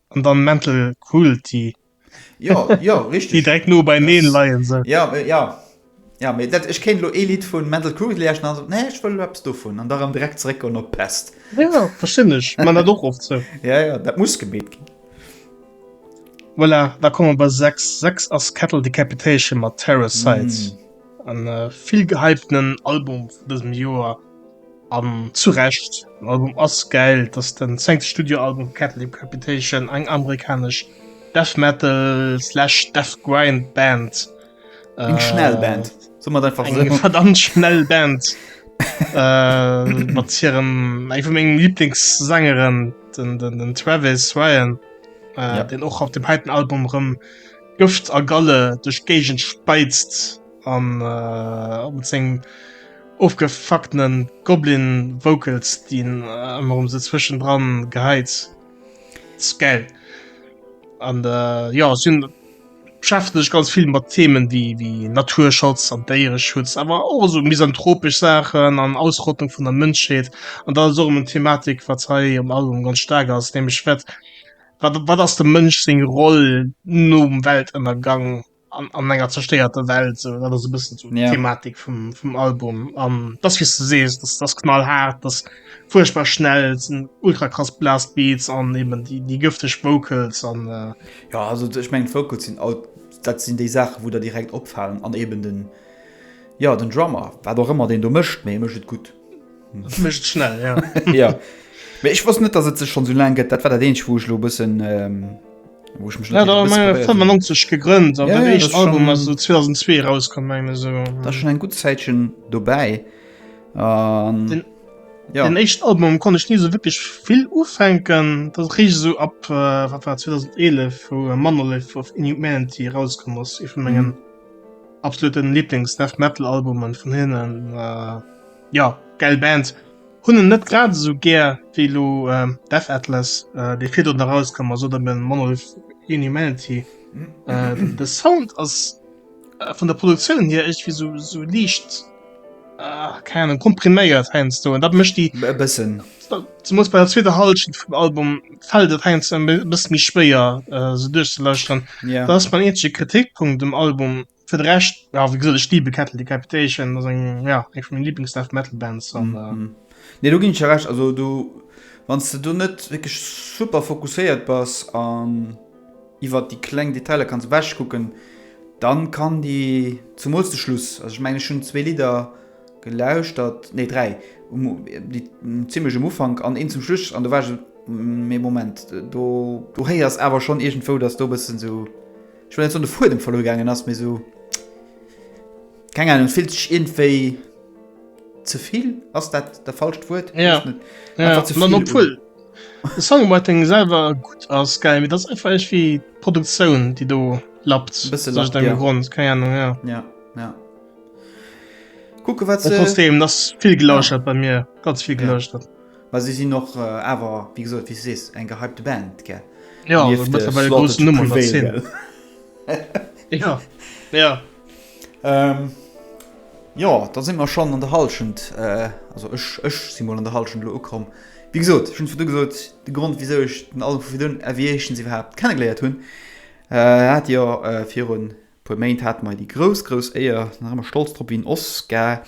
an dann mental cruelty ja ja richtig die direkt nur bei neen leien so ja äh, ja ja mir dat ich kennt lo elite von mental cruelty lechten also nee ich will apps du von an darum direkt zurück und op pest ja verschinnech man da doch oft so ja ja dat muss gebet gehen voilà da kommen bei 6 6 as kettle decapitation mat terror sites mm. an äh, viel gehypten album diesem joer An zu Recht, den Album ass gäil, et ass den zéngte Studioalbum vu Catholic Capitation, eng amerikanesch Death Metal slash Death Grind Band. Eng schnell Band, soen mer et einfach esou. Eng verdammt schnell Band mat hirem, eng vu mengem Lieblingssängeren, den Travis Ryan, deen och op dem heiten Album erëm Gëft a Galle duerch d'Géigend speizt. An op mat sengem ofgefucktenen Goblin Vocals dien emmer um se zwëschen dran gehäit. Ist geil. An jo si beschäftegen sech ganz vill mat Themen wéi wéi Naturschutz an Déiereschutz, awer och esou misanthropesch Saachen an Ausrottung vun der Mënschheet. An dat ass och emmer en Thematik wat hei am Album ganz staark ass, nämlech wat wat ass dem Mënsch seng Roll nom Weltënnergang? an, an enger zerstéierter Welt so dat ass e bëssen so yeah. Thematik vum, vum Album an ähm, das wie du sees das das knall hart das furchtbar schnell sind ultra krass blast Beats an eben die die giftig Vocals an äh, ja also ich mein Vocals sind auch, dat sind die Sachen wo der direkt opfallen an eben den ja den Drummer war doch immer den du mischt mir mischt gut Mécht schnell, ja. ja. Mee ech wosst net, dass et sech schon so lang gëtt. Dat war dat eenzeg, wou ech lo bëssen, ähm, wou ech mech net Ja, da haben wir 95 gegründet, aber ja, der ja, erste Album ist so 2002 rausgekommen, meine ich so. Da schon ein gutes Zeitchen dabei. Ähm, den, ja. den ersten Album konnte ich nie so wirklich viel aufhängen. Das riecht so ab, äh, was war 2011, wo äh, Monolith of Inhumanity rausgekommen ist. Ich von meinen mhm. absoluten Lieblings-Death Metal-Albumen von hinnen. Äh, Jo, gäil Band. Hunn en net grad esou gär wéi elo Death Atlas, dee virdrun erauskomm ass, oder eben Monolith Inhumanity. De Sound ass vun der Produktioun hier iergendwéi esou, esou liicht, keng Ahnung, kompriméiert heiansdo. An dat mécht déi. E bëssen. Zemools bei der zweeter Hallschent vum Album fält et heiansdo e bësse méi schwéier, se duerchzelauschteren. Dat ass mäin eenzege Kritikpunkt um Album. Fir de Rescht, ja, wéi gesot, ech liebe Cattle Decapitation, dat ass eng, ja, eng vun menge Lieblings-Death Metal Bands. An, äh, Mhm. Nee, do ginn ech der Recht. Also do, wann s de do net wierklech super fokusséiert bass an iwwer déi kleng Detailer kanns ewechkucken, dann kann déi, zemools de Schluss, also ech mengen ech hunn zwee Lidder gelauschtert, nee dräi, um, déi zimmlech um Ufank an eent zum Schluss an do war ech esou, mee Moment, do, do héiers awer schonn iergendwou, datt do e bëssen esou, Ech wollt net soen de Fuedem verluer gaangen ass, mee esou keng Ahnung, et fillt sech iergendwéi ze vill, ass dat dat falscht Wuert? Ja. Weess net. Ja, Einfach ze man vill obwuel de Songwriting selwer gutt ass, geil, mee dat ass einfach iergendwéi d'Produktioun, déi do lappt aus Bësse lappt, iergendengem ja. Grond, keng Ahnung, ja. Ja, ja. Kucke wat Mä se trotzdem, ass vill Ja. gelauschtert bei mir, ganz vill Ja. gelauschtert. Mä si sinn och awer, wéi gesot, wéi s de sees, eng gehypte Band, gell? Jo, se gëtt ewell e groussen Numm an der Zeen. Jo, jo. Jo, da si mer schonn an der Hallschent, also ech, ech si mol an der Hallschent elo ukomm. Wéi gesot, ech hunn virdu gesot, de Grond, wisou ech den Album vu virun Aviations iwwerhaapt kennegeléiert hunn, hat jo virun, Puer Méint hate mei déi grouss, grouss Éier, nach ëmmer stolz drop wéi en Oscar,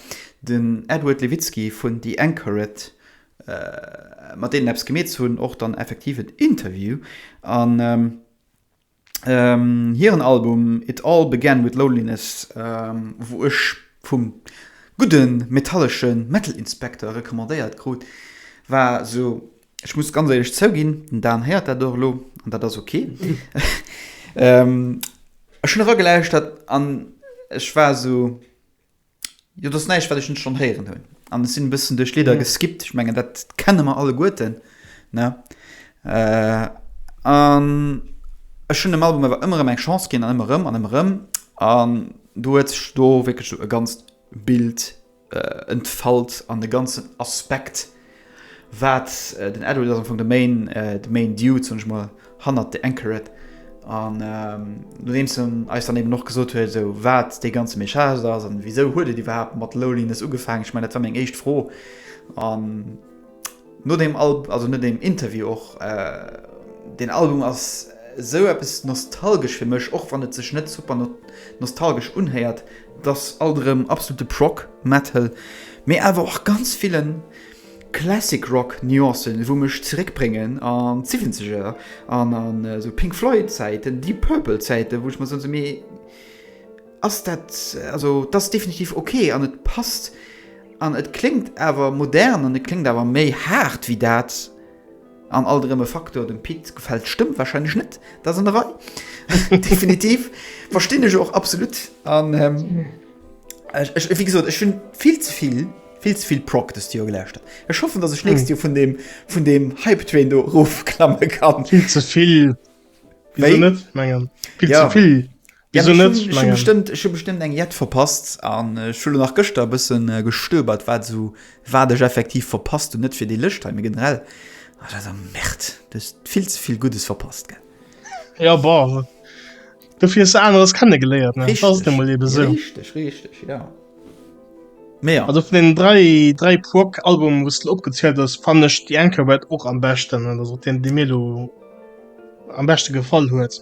den Edward Levitsky vun The Anchoret, mat deenen eppes gemeet ze hunn, och dann effektiv en Interview an hiren Album It All Began With Loneliness, wou ech vum gudde metallesche Metal Inspector recommandéiert krut, war sou Ech muss ganz éierlech zouginn, den Dan héiert dat och elo, an dat ass ok. Ech hunn eragelauschert an ech war esou, jo, dat ass näischt, wat ech net schonn héieren hunn. An ech sinn e bëssen duerch d'Lidder geskippt. Ech mengen, dat kenne mer alleguerten, ne? An ech hunn dem Album awer ëmmer erëm eng Chance ginn an ëmmer erëm an ëmmer erëm. An do huet sech do wierklech esou e ganzt Bild entfalt an de ganzen Aspekt wat den Edward ass am Fong de Main de Main Dude soen ech mol hannert The Anchoret an nodeems en eis dann eben och gesot huet esou wat dee ganze Message ass an wisou huet et iwwerhaapt mat Loneliness ugefaangen? Ech mengen dat war meng éischt Fro an No deem Album, also no deem Interview och, deen Album ass esou eppes nostalgesch fir mech, och wann et sech net super nostalgesch unhéiert. Et ass alt erëm absolute Prog Metal, mee awer och ganz villen Classic Rock Nuancen, wou mech zeréck bréngen an d'Siwwenzeger an an esou Pink Floyd Zäiten, Deep Purple Zäiten, wou ech mer soen, esou mee, ass dat, also dat ass definitiv ok an et passt an et kléngt awer modern an et kléngt awer méi haart wéi dat an alt erëm e Faktor. Dem Pit gefält d'Stëmm warscheinlech net, dat ass an der Rei, definitiv, verstinn ech och absolut an ech, wéi gesot, ech hunn vill ze vill, vill ze vill Prog dëst Joer gelauschtert. Ech hoffen, datt ech d'nächst Joer vun deem, vun deem Hype Train do erofklamme kann. Vill ze vill, wéi? Wéi? Wéi? Vill ze vill. Wéi sou net? Ech mengen. Ech hu bestëmmt eng Jett verpasst an ech hu lo nach gëschter e bësse gestöbert, wat sou, wat ech effektiv verpasst hunn, net fir déi Lëscht hei, mee generell. Ah, dat ass eng Merd. Du hues vill ze vill Guddes verpasst, gell? Ja, bon. Dofir hues de aneres kennegeléiert, ne? Dat ass nu mol ebe sou. Richteg, richteg, ja. Mee ja. Also vun den dräi, dräi Prog-Albumen, wou s de opgezielt hues, fannen ech The Anchorwet och am beschten. Dat ass och deen, dee mir elo am beschte gefall huet.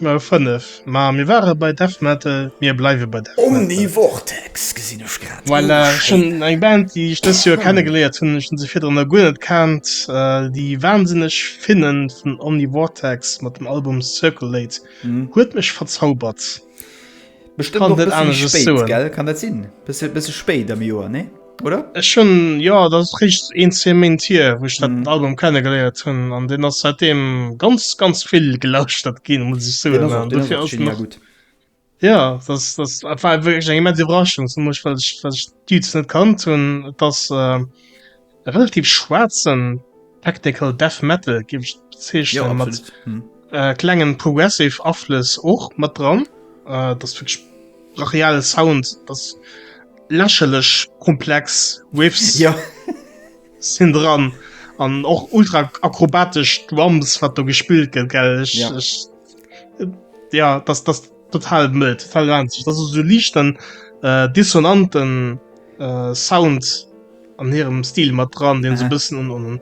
Mir 5, ma mir ware bei Death Metal, mir bleiwe bei Death Metal. Omnivortex gesinn ech grad. Voilà, ech hunn eng Band, déi ech dëst Joer kennegeléiert hunn, ech hunn se virdrun nach guer net kennt, déi wansinneg Finne vun Omnivortex mat dem Album Circulate huet mech verzaubert. Bestemmt och bëssen méi spéit, gell? Kann dat sinn? Bësse, bësse spéit am Joer, nee? Oder? Ech hunn, jo, dat ass richt een, zwee Méint hier, wou ech dat Album kenne geléiert hunn. An deen ass säitdeem ganz, ganz vill gelauschtert ginn, muss ech soen. An dofir ass en och. Ja, dat, dat war wierklech eng immens Iwwerraschung, zumools well ech, well ech d'Dudes net kannt hunn. Et ass. E relativ schwaarzen technical death metal géif ech et bezeechnen, mat klengen progressive Aflëss och mat dran. Dat ass wierklech brachial Sound, dat ass lächerlech komplex Riffs sinn dran an och ultra akrobatesch Drums, wat do gespillt gëtt. Ech, ja, dat. Total mëll, total ranzeg. Dat ass esou liicht an äh, dissonanten äh, Sound an hirem Stil mat dran, deen se Aha. bëssen un, un, un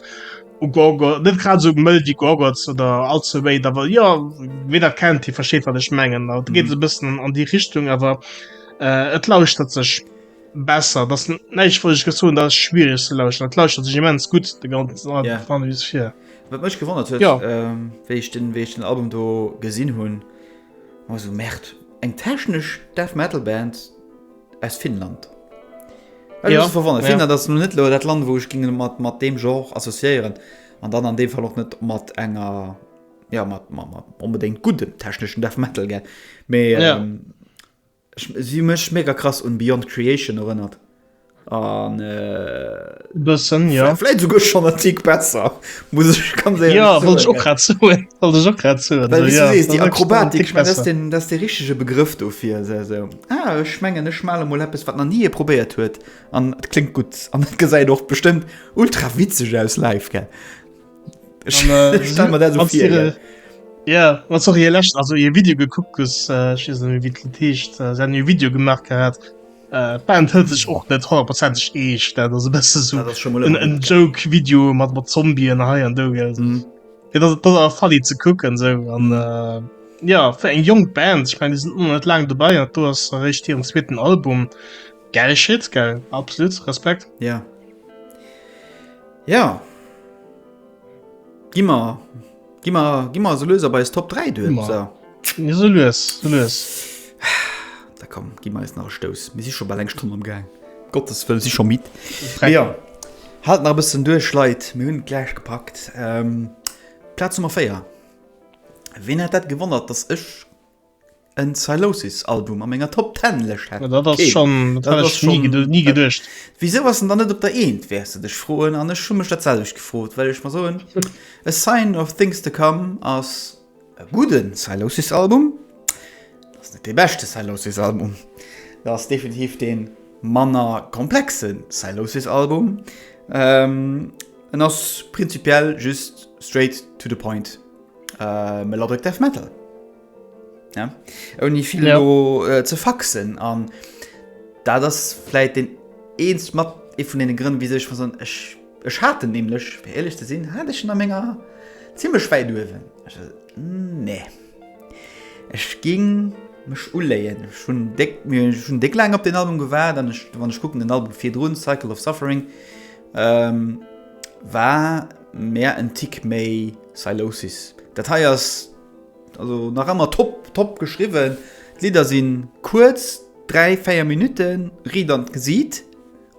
u Gorgo, net grad esou mëll wéi Gorgots oder All the Way, awer ja, wéi dat kennt, hie versteet wat ech mengen. Dat geet Mhm. e bëssen an déi Richtung, awer äh, et lauschtert sech besser. Dat ass näischt, wat ech gesot hunn, dat ass schwiereg ze lauschteren. Et lauschtert sech immens gutt, de ganzen Al- Ja. Fan wéi es fir. Wat mech gewonnert huet, Ja. ähm, wéi ich den, wéi ich den Album do gesinn hunn, Masu Merd, eng technesch Death Metal Band aus Finnland. Ech ja. verwonnert. Ja. Finnland ass net lo dat Land, wou ech ginge mat, mat dem Genre associéieren. An dann an dem Fall och net mat enger ja, mat, mat, mat onbedéngt guddem techneschen Death Metal, gell? Mee, ja. ähm, Si hu mech mega krass un Beyond Creation erënnert an e bëssen, jo. Vläit esouguer schonn en Tick besser, muss ech ganz éierlech soen. Jo, wollt ech och grad soen, wollt ech och grad soen. Well wéi s du sees, déi Akrobatik, ech mengen, dat ass den, dat ass de richtege Begrëff dofir, se esou, ah, ech mengen, ech male mol eppes, wat nach ni ee probéiert huet an et kléngt gutt an et gesäit och bestëmmt ultra witzeg aus live, gell. Ja wat so je lächt also je Video gekuckt ges äh, wie techt äh, se je Video gemacht gehabt äh, Band hëlt sech och net 100 Prozent eeg dat se best so en Joke Video mat mat Zombien hei an do gel mhm. fall ze kucken se an mhm. äh, Ja fir eng jong Band ich mein, die sind net lang dabei du hast recht ihren zweiten Album geil shit geil absolut Respekt ja. Yeah. Jo, gi mer, gi mer, gi mer esou lues op eis Top 3 duer. So. Esou lues, esou lues. Da komm, gi mer eis nach e Stouss. Mir si scho bal eng Stonn am Gaang. Gottes Wëll, si scho midd. Dreck. Jo, haalt nach e bëssen duerch, Leit, mir hunn et gläich gepackt. Ähm, Plaz Nummer 4. Wien hätt dat gewonnert, dass ech En Sylosis Album a menger Top 10 Lëscht hätt dat ass schonn dat ass schonn ni geduecht. Wisou ass en dann net op der eent wäerts de dech froen an ech hu mech dat selwecht gefrot well ech mer soen A Sign of Things to Come ass e gudde Sylosis Album, dat ass net dee beschte Sylosis Album, dat ass definitiv dee manner komplexe Sylosis Album, en ass prinzipiell just straight to the point melodic death metal. Ja? Ouni vill ja. lo, äh, ze faxen an da das vielleicht den eens mat e vun den Grënn wie sech vu son ech ech hatte nämlichlech fir ehrlich ze sinn hat ech a ménger ziemlich wei duwen hm, nee Ech ging mech uléien schon deck mir schon deck lang op den Album gewaart an ech wann ech gucken den Album fir droen Cycle of Suffering ähm, war mehr en Tick méi Silosis Dat heiers Also nach ëmmer top top geschriwwen. D'Lidder sinn kuerz, 3, 4 Minutten, riit an d'Gesiit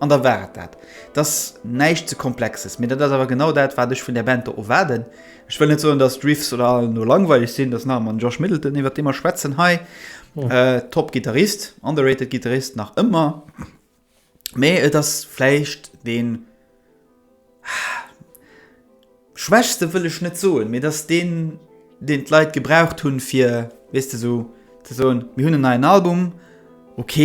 an da war et dat. Et ass näischt ze Komplexes, mee dat ass awer genau dat wat ech vun där Band do erwaarden. Ech wëll net soen, datt d'Riffs oder all no langweileg sinn, et ass nach ëmmer den Josh Middleton iwwert dee mer schwätzen hei. Top Gittarist, underrated Gittarist nach ëmmer. Mee et ass vläicht deen, schwächste wëll ech net soen, mee et ass deen, deen d'Leit gebraucht hunn, fir, weess de, esou ze soen, mir hunn en neien Album, ok,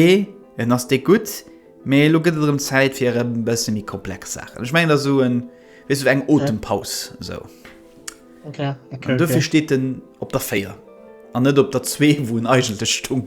en ass déck gutt, mee elo gëtt et erëm Zäit fir erëm e bësse méi komplex Saachen. Ech mengen, et ass esou en, weess de, esou eng Otempaus esou. An dofir steet en op der 4 an net op der 2, wou en eigentlech stoung.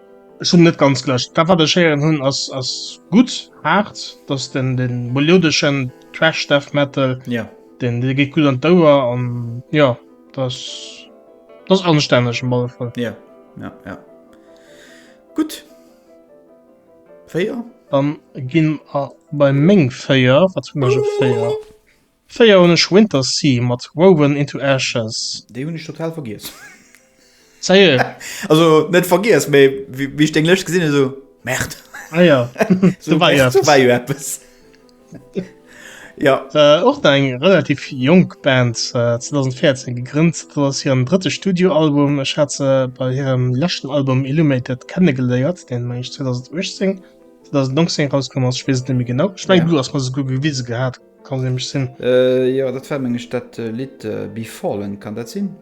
Ech hunn net ganz gelescht. Dat wat ech héieren hunn ass ass gutt haart, dass den den meliodeschen Thrash Death Metal ja den dee geet gutt an d'Ouer an jo dass dass anstänneg op alle Fall. Ja ja ja gutt 4. Dann ginn mer bei meng 4 wat hunn ech op 4? 4 hunn ech Winter Sea mat Woven into Ashes. Déi hunn ech total vergiess. Sérieux? Also net vergiess, mee wéi ech deng Lëscht gesinn hunn, esou, Merde! Ah jo, do war jo eppes. Do war jo eppes. Jo. Och nach eng relativ jonk Band, 2014 gegrënnt. Dat ass hiren drëtte Studioalbum. Ech hat se bei hirem leschten Album Illumated kennegeléiert, deen, meng ech, 2018, 2019 erauskom ass, ech weess et net méi genau. Ech mengen, du hues mer se esouguer gewise gehat. Kann nämlech sinn. Äh, jo, dat war, meng ech, dat Lidd Be Fallen. Kann dat sinn?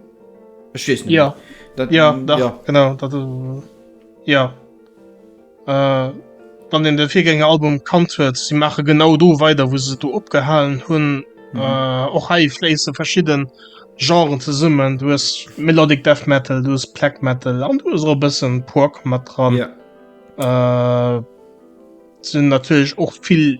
Ech weess net. Jo, dat, jo, dach, jo. genau. Dat, uh, jo. Äh, wann een de Virgängeralbum kannt huet, si maache genau do weider, wou se do opgehalen hunn. Mhm. Äh, och hei fléisse verschidde Genren zesummen. Du hues Melodic Death Metal, du hues Black Metal an du hues och e bëssen Prog mat dran. Ja. Äh, sinn natierlech och vill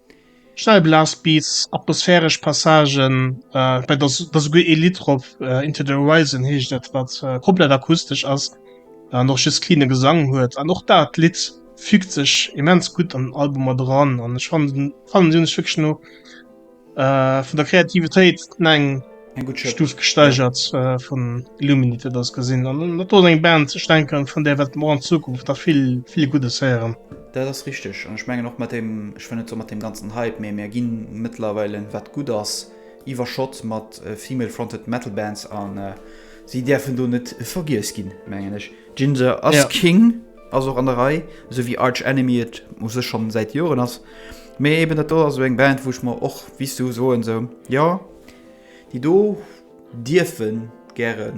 Schnell Blastbeats, atmosphäresch Passagen, bei der ass esouguer ee Lidd drop, Into the Horizon heescht et, wat komplett akustesch ass an och just cleane Gesang huet. An och dat Lidd fügt sech immens gutt an den Album mat eran an ech fannen, si hunn sech wierklech no vun der Kreativitéit, neng. Stuuf gesteigert äh, vun Illuminite das gesinn an dat eng Band ze denken vun der wat mor an Zukunft da vill vill gute Säieren. Da das richtig an ich menge noch mat dem ich fan net so mat dem ganzen Hype mé mir ginn mëttlerweile wat gut ass iwwerschott mat äh, female fronted Metal Bands an äh, si därfen do net vergiess ginn mengen ech. Ginger ass ja. King ass och an der Rei so wie Arch Enemy et muss sech schon seit Joren ass. Mé eben dat do ass eso eng Band wuch mer och wie du soen se so, ja. Déi do dierfe gäre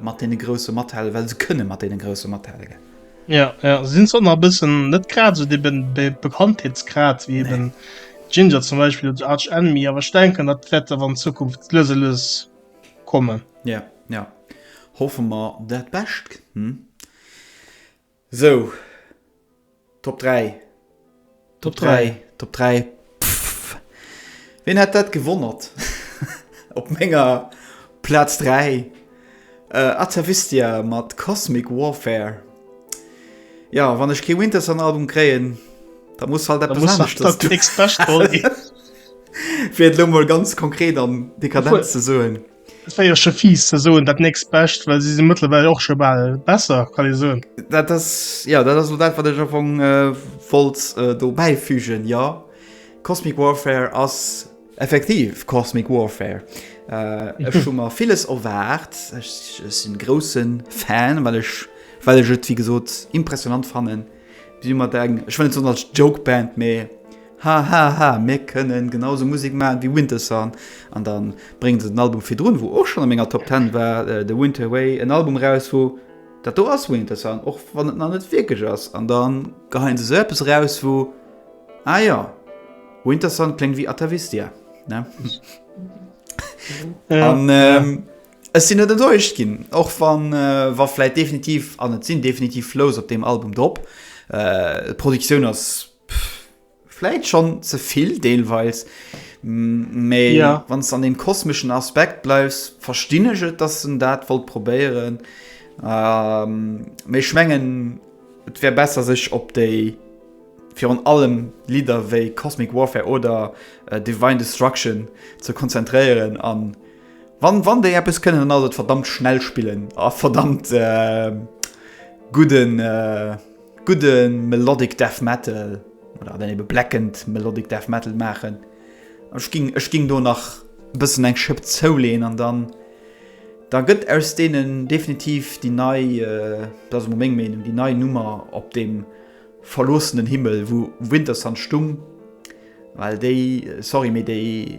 mat deene Grousse mathale, well se kënne mat deene Grousse mathale. Ja, ja. Si sinn zwar e bëssen net grad esou dee Bekanntheetsgrad wéi eben nee. Ginger zum Beispill oder Arch Enemy, awer ech denken, dat wäert awer an Zukunft lues a lues kommen. Ja, ja. Hoffe mer dat Bescht. Hm. Sou, Top 3, Top 3, Top 3, pff, wien hätt dat gewonnert? Op menger Plaz 3, äh, Atavistia mat Cosmic Warfare. Jo, wann ech kee Wintersun-Album kréien, da muss halt eppes aneschters do. Da muss halt dat nächst Bescht do ginn. Fir et elo mol ganz konkret an dekadent ze soen. Et wär jo scho fies ze soen, dat nächst Bescht, well si si mëttlerweil och scho bal besser, kann ee soen. Dat ass, jo, dat ass elo dat, wat ech am Fong wollt do bäifügen, jo. Cosmic Warfare ass effektiv Cosmic Warfare. Ech hu mer villes erwaart. Ech sinn grousse Fan, well ech et, wéi gesot, impressionant fannen, Si mat eng, ech wëll net soen als Jokeband, mee hahaha, mir kënnen genau esou Musek maachen wéi Wintersun. An da bréngen se den Album virdrun, wou och schonn a menger Top Ten war, The Winter Way, en Album eraus, wou, dat do ass Wintersun, och wann et nach net wierklech ass. An da geheien se esou eppes eraus, wou, ah jo, Wintersun kléngt wéi Atavistia, ne? An. Ech sinn net enttäuscht ginn, och wa wa vläit definitiv, an et sinn definitiv Flows op deem Album drop, d'Produktioun ass vläit schonn ze vill deelweis, mee wann s de an deem kosmeschen Aspekt bleifs, verstinn ech et, datt en dat wollt probéieren. Mee ech mengen, et wär besser, sech op déi virun allem Lidder wéi Cosmic Warfare oder Divine Destruction ze konzentréieren an. Wann wann déi eppes kënnen dann ass et verdammt schnell spillen a verdammt gudden gudde melodic death metal oder dann ebe blackened melodic death metal maachen. Ech ging ech ging do nach bëssen eng Schëpp zouleen an dann da gëtt aus deenen definitiv déi nei, dat ass emol meng Meenung, déi nei Nummer op dem verloossenen Himmel wou Wintersun stung, well déi, sorry, mee déi,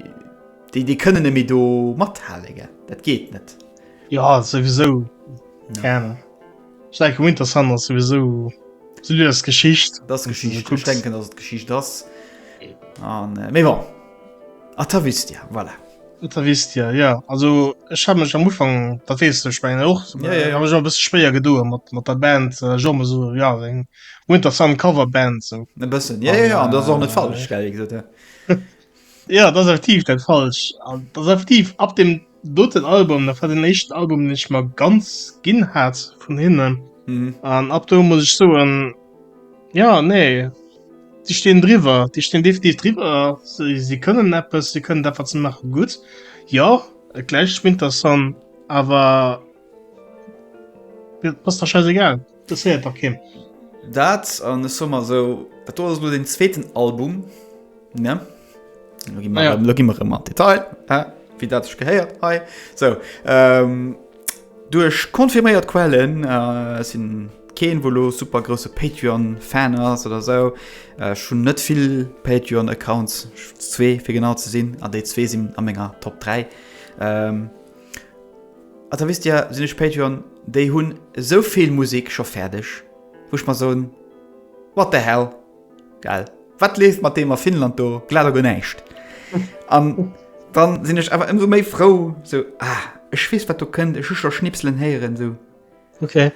Déi déi kënnen nemme do mathalen, dat geet net. Jo souwisou gern. Ech denken Winter Sun ass souwisou si du ass Geschicht. Dat Geschicht kucks denken ass et Geschicht ass. An méi wa A ta wisst Dir voilà. Da wisst Dir ja also ech ha mech am Ufang dat weess du Spengen och Ja, ja, ja. ha mech och e bësse spéier gedoe mat mat der Band äh, Jo me so ja eng Winter Sun Coverband sou. E bëssen. Ja, ja, ja, an dat ass och net falsch, gell, wéi gesot, ja. Ja dat effektiv dat falsch das effektiv ab dem doten Album da war den echten Album den ich mal ganz ginn hat vun hinnen mhm. an ab do muss ich so en ja nee die stehen drüber die stehen definitiv drüber sie, sie können Apps sie können einfach zu machen gut ja gleich interessant aber Ass der scheißegal, interesséiert dach keen. Dat an ech soe mer esou, dat do ass elo deen zweeten Album, ne? Lo gi mer, lo gi mer erëm an d'Detail, wéi dat sech gehéiert hei. Sou, duerch confirméiert Quellen, ech sinn keen, wou elo super grousse Patreon-Fan ass oder esou, ech hunn net vill Patreon-Accounts, zwee fir genau ze sinn, an déi zwee sinn a menger Top 3, Also da wisst dir, sinn ech Patreon, déi hunn esou vill Musek scho fäerdeg, wou ech mer soen, What the hell? Gell? Wat leeft mat deem a Finnland do? Glat a guer näischt. An dann sinn ech awer ëmsou méi frou, sou, Ah, ech weess, wat do kënnt, ech hu scho Schnipselen héieren, sou. Okay.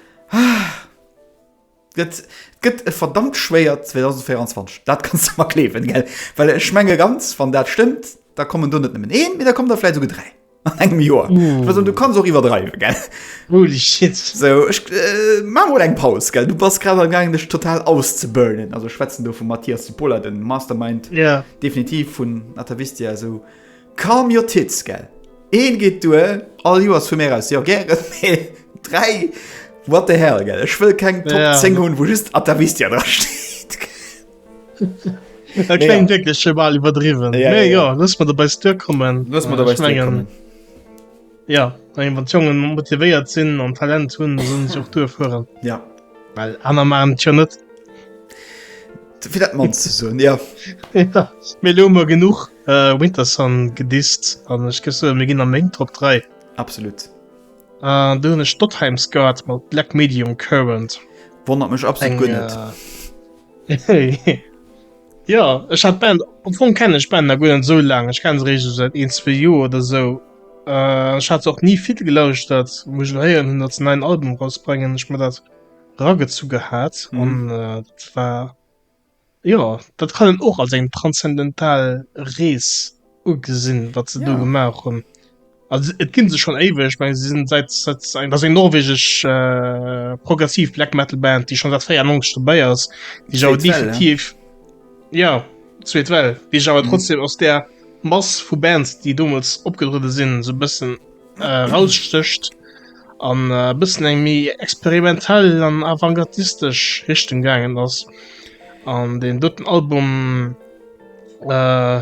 Et gëtt e verdammt schwéiert 2024, dat kanns de mer gleewen, gell? Well ech menge ganz, wann dat stëmmt, da kommen do net nëmmen een, mee da kommen der vläit esouguer dräi an engem Joer. Ech wëll soen, du kanns och iwwerdreiwen, gell? Holy shit! So, ech maache mol eng Paus, gell? Du bass grad amgaangen, dech total auszeburnen. Also, ech schwätzen do vum Matthias Cipolla, dem Mastermind, definitiv vun Atavistia, esou. Calm your tits, gell? Een geet duer, all Joers vu mir aus, jo gären, mee 3, what the hell, gell? Ech wëll keng Top 10 hunn, wou just Atavistia dra steet. Dat kléngt wierklech scho bal iwwerdriwwen. Mee jo, looss mer dobäi Stir kommen. Looss mer dobäi Stir kommen. Ja, eng wat Jongen motivéiert sinn an Talent hunn, sollen sech och duer fueren. Ja. Well aner maachen et jo net. Fir dat Mann ze soen, jo. Mee elo hu mer genuch. Äh, Winterson gedisst, an ech géif soen, mir ginn a meng Top 3. Absolut. An do hunn ech Dottheim's Guard mat Black Medium Current. Wonnert mech absolut guer net. Äh, jo, ech hat d'Band, am Fong kennen ech d'Band nach guer net esou laang, ech kenne se réischt esou säit een, zwee Joer oder esou. Äh, ech hat se och ni vill gelauschtert, wou ech elo héieren hunn, datt se en neien Album erausbréngen, hu ech mer dat eragezu gehat an dat war. Jo, dat kann een och als eng transzendental Rees ugesinn, wat se do gemaach hunn. Also et ginn se schonn éiweg, ech menge se sinn säit, säit, dat ass eng norwegesch progressiv Black Metal Band, déi schonn säit 94 dobäi ass, déi awer definitiv, jo, zweet Well, déi sech awer trotzdem aus där Mass vu Bands, déi deemools opgetruede sinn, esou e bëssen, äh, rausstécht an äh, bëssen eng méi experimentell an avantgardistesch Richtung gaangen ass. An den doten Album äh,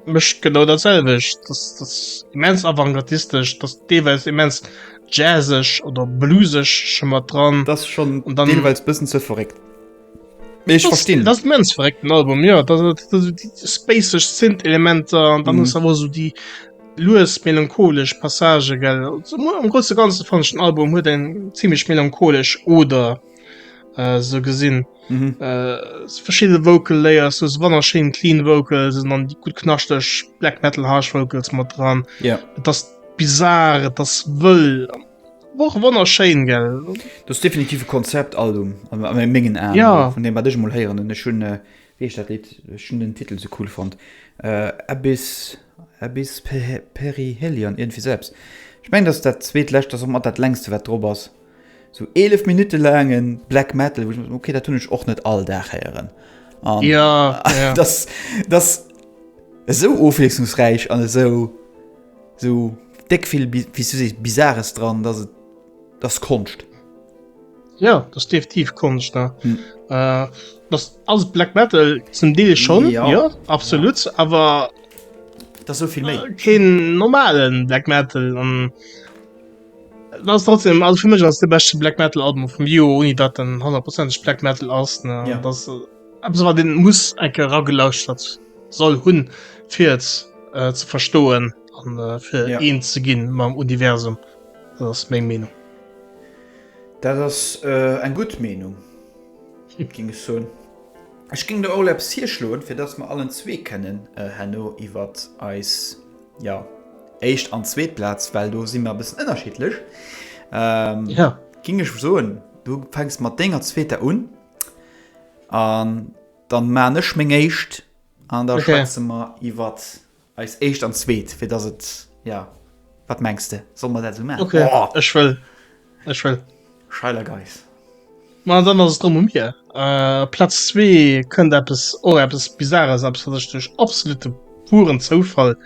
mecht genau datselwech. Das, das immens avantgardistesch, das deelweis immens jazzeg oder blueseg schon mat dran. Das schon und dann deelweis bëssen ze verréckt. Mee ech verstinn. Dat ass immens verréckt den Album, jo. Dat ass dat ass déi spaceg Synth-Elementer an dann ass awer sou déi lues melancholesch Passagë, gell. Sou muer am Grousse Ganze fannen ech den Album huet eng zimmlech melancholesch Oder sou gesinn. Verschidde Vocal Layers, sou wannerschéin clean Vocals an dann déi gutt knaschteg Black Metal Harsh Vocals mat dran. Et ass bizar, et ass wëll. Woch wonner schéin gell. Dass definitive Konzept Album an mengen Aen ja. vun dem wat ech mol héieren an ech hunn äh, wéi heescht dat Lidd ech hunn den Titel sou cool fonnt äh, Abyss Abyss Perihelion iergendwéi sou eppes. Ech mengen dass dat zweet lescht ass och mat dat längste wat drop ass. Sou 11 Minutte laange Black Metal wou ech okay dat hunn ech och net all Dag héieren. Um, ja, ja. dass dass esou ofwiesslungsräich an esou Sou déck vill wéi s du sees Bizares dran, dass et ass Konscht. Jo, dat ass definitiv Konscht. Dat ass alles Black Metal, zum Deel schonn, jo, absolut, awer dat ass esou vill méi. Keen normale Black Metal an dat ass trotzdem, also fir mech ass et de beschte Black Metal Album vum Joer, ouni datt en honnertprozenteg Black Metal ass, ne, dat ass. Eppes wat een muss eng Kéier eragelauschtert soll hunn fir et ze verstoen an fir eens ze ginn mam Universum. Dat ass meng Meenung. Dat ass eng gutt Meenung géing ech soen. Ech géing elo emol eppes hierschloen fir datt mer allen zwee kennen herno iwwer eis jo éischt an zweet Plaz, well do si mer e bëssen ënnerschiddlech, géing ech soen du fänks mat denger zweeter un. An dann man ech meng éischt an da okay. schwätze mer iwwer eis éischt an zweet fir dass et ja wat mengst de soll man dat so machen okay. oh. ech will ech will scheiler geis Ma dann ass drum um mir äh, Platz zwee kënnt Apps o oh, Apps bizarres ab sech duch absolute puren Zoufall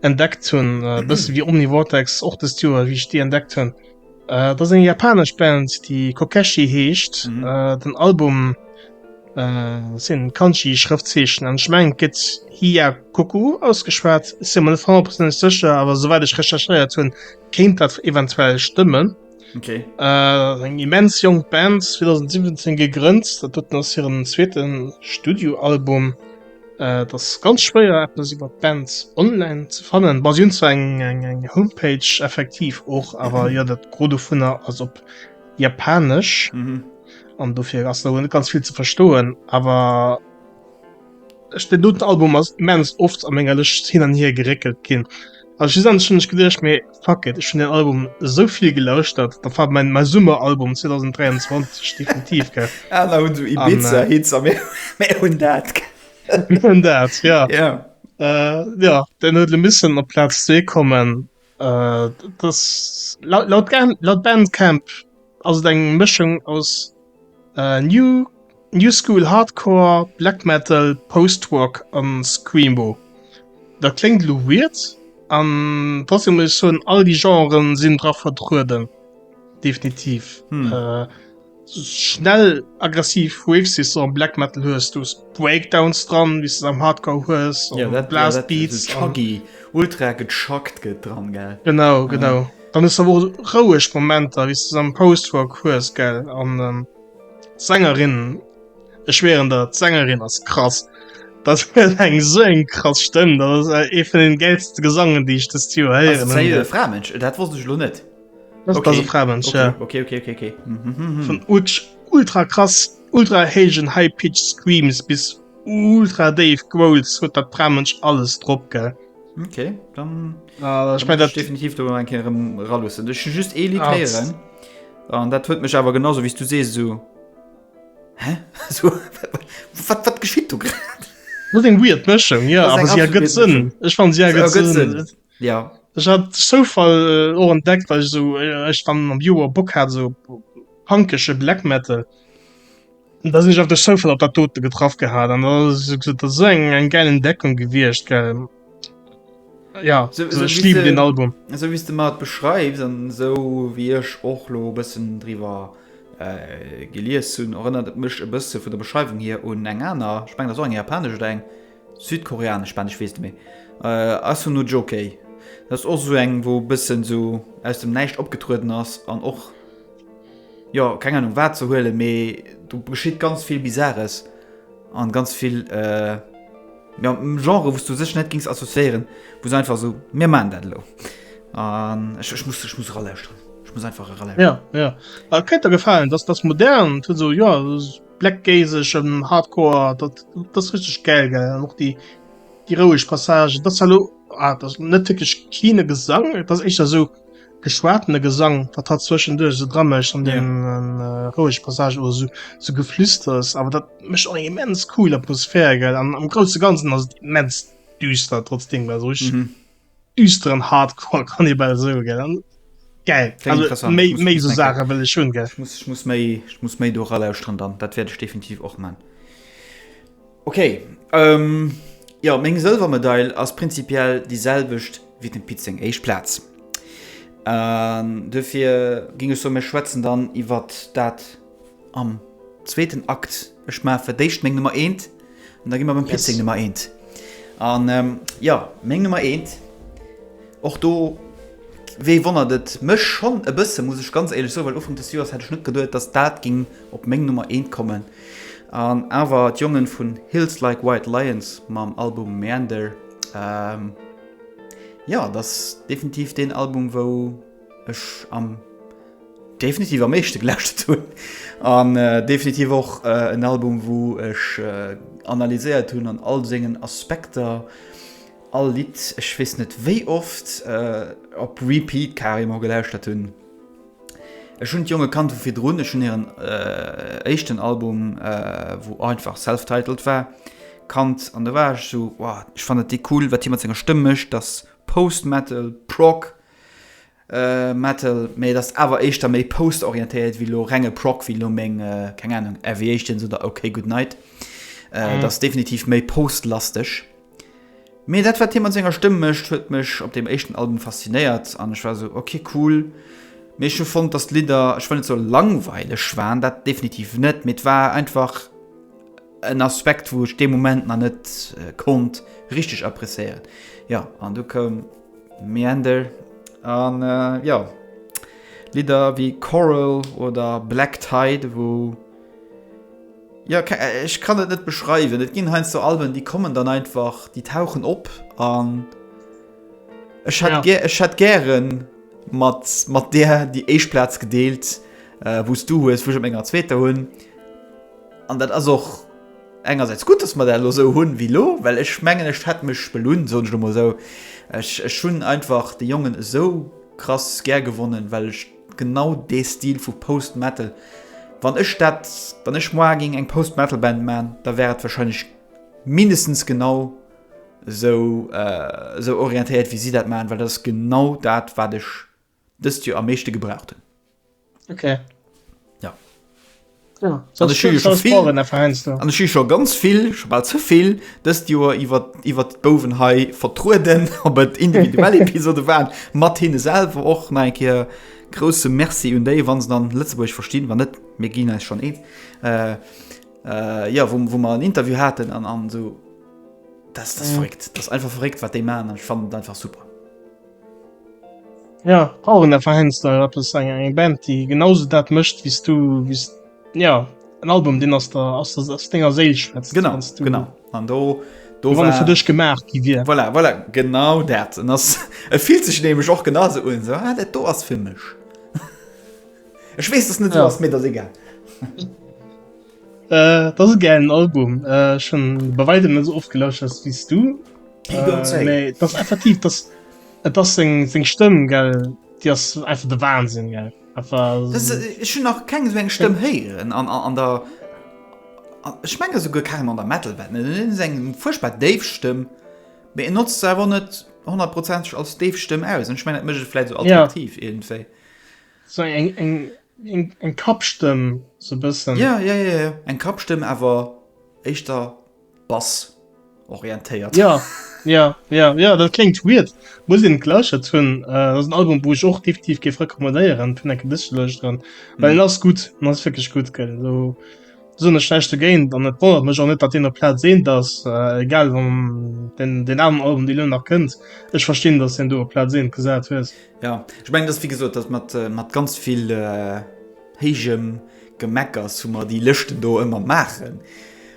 entdeckt hunn äh, bësse wie omni Vortex och de Steer wie ich die entdeckt hunn. Äh, dat ass eng japanesch Band, déi Kokeshi heescht. Mhm. Äh, den Album äh, sinn Kanji-Schrëftzeechen an Schmeng gëtt Hiyakoku ausgeschwat. Si simmer net 100 Prozent sécher, awer soweit ech recherchéiert hunn, kéint dat eventuell stëmmen. Okay. Äh, eng immens jong Band 2017 gegrënnt, dat dot ass hiren zweeten Studioalbum. Et ass ganz schwéier eppes iwwer d'Band online ze fannen. Bas un zu eng eng eng Homepage effektiv och, awer ja dat gro du vun der ass op Japanesch mhm. an mhm. dofir ass der ganz viel ze verstoen, awer Ech den doten Album ass mens oft a ménger Lëcht hin an hier geréckelt ginn. Ass si an schënneg gedéch méi. Fuck it, ech hunn den Album esou vill gelauschtert, da war mein mein Summeralbum 2023 definitiv gell. Ah, da hunn du Ibiza äh, Hits a mir hunn dat. Mir hunn dat, ja. Yeah. Äh, ja, den huet e missen op Platz 2 kommen. Äh, das laut, laut, laut Bandcamp ass et eng Mëschung aus New School Hardcore, Black Metal, Post Rock a Screamo. Dat kléngt elo weird an trotzdem muss ech soen, all déi Genren sinn dra vertrueden, definitiv. Schnell aggressiv Riffs wéi s de am Black Metal hues, du hues Breakdowns dran, wéi s de se am Hardcore hues, Blast Beats. Ultra gechuggt gëtt dran. Genau. Dann hues awer och roueg Momenter wéis de se am Post-Rock hues gell? An d'Sängerin, ech schwéieren der, d'Sängerin ass krass, dat huet eng esou eng krass Stëmm, dat ass ee vun den gäilste Gesangen déi ech dëst Joer héieren hunn. Ass et e Framënsch? Dat wosst ech elo net. Dat ass e Framënsch, jo. Ok, ok, ok, ok. Vun ultra krass, ultra héijen high-pitched Screams bis ultra déif Growls huet dat Framënsch alles drop, gell. Okay, dann, ah, dann ich mein, definitiv ralussen Ech just e Li heieren an dat huet mech awer genauso wie du se so Hä so, wat, wat geschitt du grad? Muss eng weird Mëschung ja awer si gëtt sinn Ech fan si gëtt sinn Ja Ech hat soufall äh, och entdeckt well so ech äh, fan am Joer Bock hat so pankesche Black Metal. da sinn ech auf der Soufall op dat dote getraff gehat an so eng eng geil Entdeckung gewircht ge ja so, so, so lief den Album so wie du mat beschreibs an so wie ech och lo bëssen drwer äh, gelies hunn erënnert mech e bësse vun der Beschreibung hier un eng aner speng der so eng japanesch oder eng südkoreanesch spanisch wees du méi äh, ass hun no Jokei dat och so eng wo bëssen so aus dem näischt opgetrueden ass an och jo keng Ahnung wat ze huelen, mee do geschitt ganz vill Bizarres an ganz vill jo Genren wou s du sech net gings associéieren, wou se einfach sou mir maachen dat elo an ech muss ech muss eralauscheren, ech muss einfach eralauscheren. Jo jo dat kéint der gefalen, dass dass modern et huet sou jo blackgaze-eg an hardcore dat dat ass richteg gäil gell an och déi déi roueg Passagen, dass elo ah dat ass net wierklech cleane Gesang, dat ass éischter sou. geschwatene Gesang, wat hat zwëschenduerch so dra mécht an den roueg Passage oder so, so geflüsters, awer dat mécht och eng immens cool Atmosphär gell an am grouse ganzen ass immens düster trotzdem war sech mm -hmm. düsteren hardcore kann e bei so gell an geil méi méi so Sache well schon gell ich muss méi ich muss méi do ralauusren dann dat werde ich definitiv och man Ok, jo meng Sëlwermedail ass prinzipiell déi selwecht wéi dem Pit seng éischt Plaz. Duerfir géing ech soen, mir schwätzen dann iwwer dat am zweeten Akt. Ech maache fir d'éischt meng Nummer eent an da gi mer beim Pit seng Nummer eent an. Jo meng Nummer eent, och do wee wonnert et mech schonn e bësse muss ech ganz éierlech soen, well Ufank des Joers hätt ech net geduet, datt dat géing op meng Nummer eent kommen. An awer d'Jongen vun Hills Like White Lions mam Album Meander. Jo dat ass definitiv deen Album wou ech am definitiv am meeschte gelauschtert hunn. An definitiv och en Album wou ech analyséiert hunn an all sengen Aspekter, all Lidd ech weess net wéi oft op Repeat carrément gelauschtert hunn. Ech hunn d'Jonge kannt vu virdrun, ech hunn hiren éischten Album, wou einfach self-titled war, kannt an da war ech esou, wow, ech fannen dee cool, wat hie mat senger Stëmm mécht, dat ass Post-Metal, Prog, Metal, mee et ass awer éischter méi Post-orientéiert wéi elo renge Prog, wéi elo meng, keng Ahnung, Aviations oder OK Goodnight, dat ass definitiv méi Post-lasteg. Mee dat wat hie mat senger Stëmm mécht huet mech op deem éischten Album faszinéiert an ech war esou ok cool. Mee ech hu fonnt dass d'Lidder, ech wëll net soe langweileg waren, dat definitiv net, mee et war einfach en Aspekt wou ech dee Moment nach net konnt richteg appréciéieren. Jo an du koum Meander an jo Lidder wéi Coral oder Black Tide wou. Jo, ech kann et net beschreiwen. Et ginn heiansdo Alben, déi kommen dann einfach, déi tauchen op an ech hätt, ja. ech hätt gären mat, mat där déi éischt Plaz gedeelt, äh, wou s du hues, wou ech op menger zweeter hunn. An dat ass och engersäits gutt, dass mer dat elo esou hunn wéi lo, well ech mengen, ech hätt mech belunn, soen ech elo mol esou. Ech, ech hunn einfach de Jongen esou krass gär gewonnen, well ech. Genau dee Stil vu Post-Metal. Wann ech dat, wann ech moar géing eng Post-Metal-Band man, da wär et wahrscheinlech mindestens genau sou, sou orientéiert wéi si dat man, well dat ass genau dat wat ech dëst Joer am meeschte gebraucht hunn. Ok. An ech hu scho ganz vill, scho bal ze vill, dëst Joer iwwer iwwert d'Bouwen hei vertrueden, ob et individuell Episode waren, mat hinne selwer och nach eng Kéier grousse Merci un déi, wa se dann Lëtzebuergesch verstinn, wa net, mir ginn eis schonn eens, jo, wou mer en Interview haten an esou. Dat ass verréckt, dat ass einfach verréckt, wat déi maachen an ech fannen dat einfach super. Ja, brauchen der Verhänster rappes eng eng Band, déi genauso dat mëscht wies du wies ja en Album deen ass der ass der ass denger Séil schwätzt. Genau genau an do do wann e fir dech gemaach gi wier. Voilà voilà genau dat en ass e fillt sech nämlech och genau esou un esou ah dat do ass fir mech. Ech weess dass net esou ass mee et ass egal. Äh, dat ass e gäilen Album. Äh, ech hunn e bei Wäitem net esou oft gelauschtert wéi s du. Hie goung zréck. Mee dat ass effektiv, dat ass, et ass seng, seng Stëmm, gell, déi ass einfach de Wahnsinn, gell. Einfach s- Dës, ech hunn nach keng esou eng Stëmm héieren an, an der, a, ech mengen esouguer carrément an der Metal-Welt net. Et ass eng fuerchtbar déif Stëmm, mee en notzt se awer och net honnertprozenteg als déif Stëmm aus. An ech mengen, dat mécht et vläicht esou Ja. attraktiv iergendwéi. So eng, eng, eng, eng Kappstëmm, sou bëssen. Ja, ja, ja, ja, eng Kappstëmm, awer éischter Bass orientéiert. Ja, ja, ja, ja, dat kléngt weird. Muss een et lauschert hunn. Dat ass en Album, wou ech och definitiv géif recommandéieren, fir eng Kéier dëse ze lauschteren, well en ass gutt, en ass wierklech gutt, gell. Do soen ech näischt dogéint an et wonnert mech och net, datt deen op Plaz 1 ass, egal wann deen, deen aneren Album, dee lo nach kënnt, ech verstinn, datt s de en do op Plaz 1 gesat hues. Jo, ech mengen, dass, wéi gesot, dass mat, mat ganz vill héijem Gemeckers hu mer déi Lëschten do ëmmer maachen.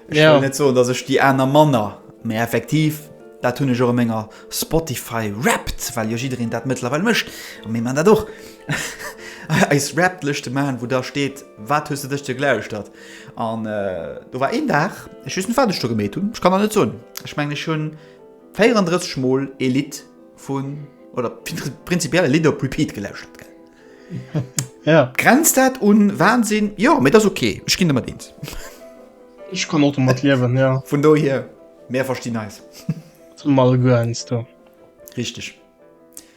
Ech Ja. wëll net soen, dass ech déi aner manner, mä effektiv, dat hunn ech och a menger Spotify Wrapped, well jo jiddereen dat mëttlerweil mécht, a mir maachen dat och, eis Wrapped-Lëschte maachen, wou da steet, Wat hues de dës Deeg gelauschtert? An do war een Dag, ech weess net, wat ech do gemeet hunn, ech kann der net soen, ech mengen, ech hu 34 Mol ee Lidd. vun oder prinzipiell e Lidd op Repeat gelauscht huet. Ja. Grenzt dat un Wahnsinn? Jo, mee dat ass okay. Ech ginn domat eens. Ech kann och domat liewen, ja. Vun dohier, mir verstinn eis. Zum alle guer eins, du. Richtig.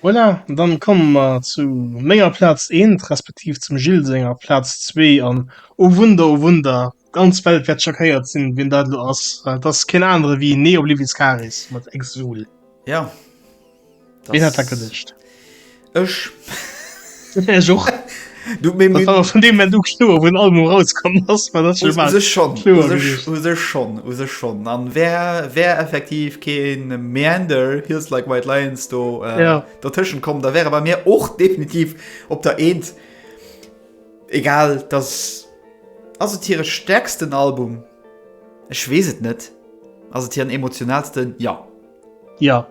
Voilà, dann kommen mer zu menger Platz 1, respektiv zum Gilles senger Platz 2 an, oh Wunder, oh Wunder, D'ganz Welt wärt schockéiert sin wien dat lo ass, well et ass keen anere wéi Nee Oblivious Karis mat Exul. Ja. Ween hätt dat gedecht? Ech. Ech och. Du mé mé. Vun deem Moment u kloer wou den Album erauskomm ass, war dat schon bal kloer gewiescht. U sech schonn, u sech schonn. An wär wär effektiv keen Meander, Heels Like White Lions do dertëschent komm, da wär e bei mir och definitiv op der Eent. Egal, dass ass et hire stäerksten Album? Ech weess et net. Ass et hiren emotionalsten? Jo. Jo.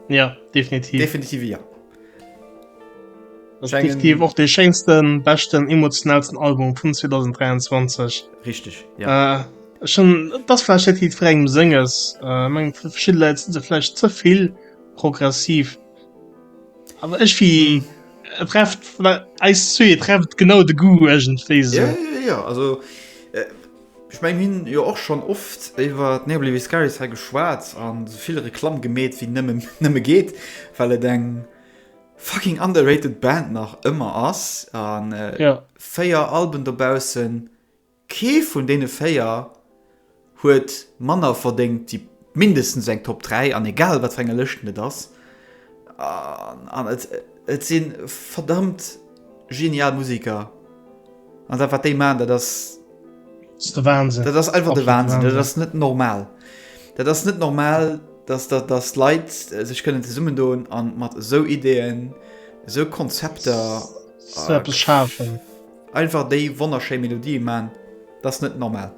Jo, definitiv. Definitiv jo. Ass definitiv och dee schéinsten, beschten, emotionalsten Album vun 2023. Richteg, jo. Ech hunn, et ass vläicht net jiddwerengem Senges. Ech mengen, fir verschidde Leit si se vläicht ze vill progressiv. Awer ech wie et trefft eis zwee trefft genau de Goût ëgentwéi sou. Ja, ja, ja, also äh, ech meng mir hunn jo och schonn oft iwwer Neobly Viscaris hei geschwat an esou vill Reklamm gemeet wéi nëmme nëmme geet, well et eng fucking underrated Band nach ëmmer ass an äh, 4 Alben dobaussen. Kee vun deene véier huet manner verdéngt wéi mindestens eng Top 3, an egal wat fir enger Lëschten et ass. An et si verdammt genial Museker, an dat wat déi maachen, dat ass. Dat ass de Wahnsinn. Dat ass einfach de Wahnsinn. Dat ass net normal. Dat ass net normal, datt Leit sech kënnen zesummendoen a mat esou Ideeën, esou Konzepter. Esou eppes schafen. Einfach déi wonnerschéi Melodie man, dass net normal.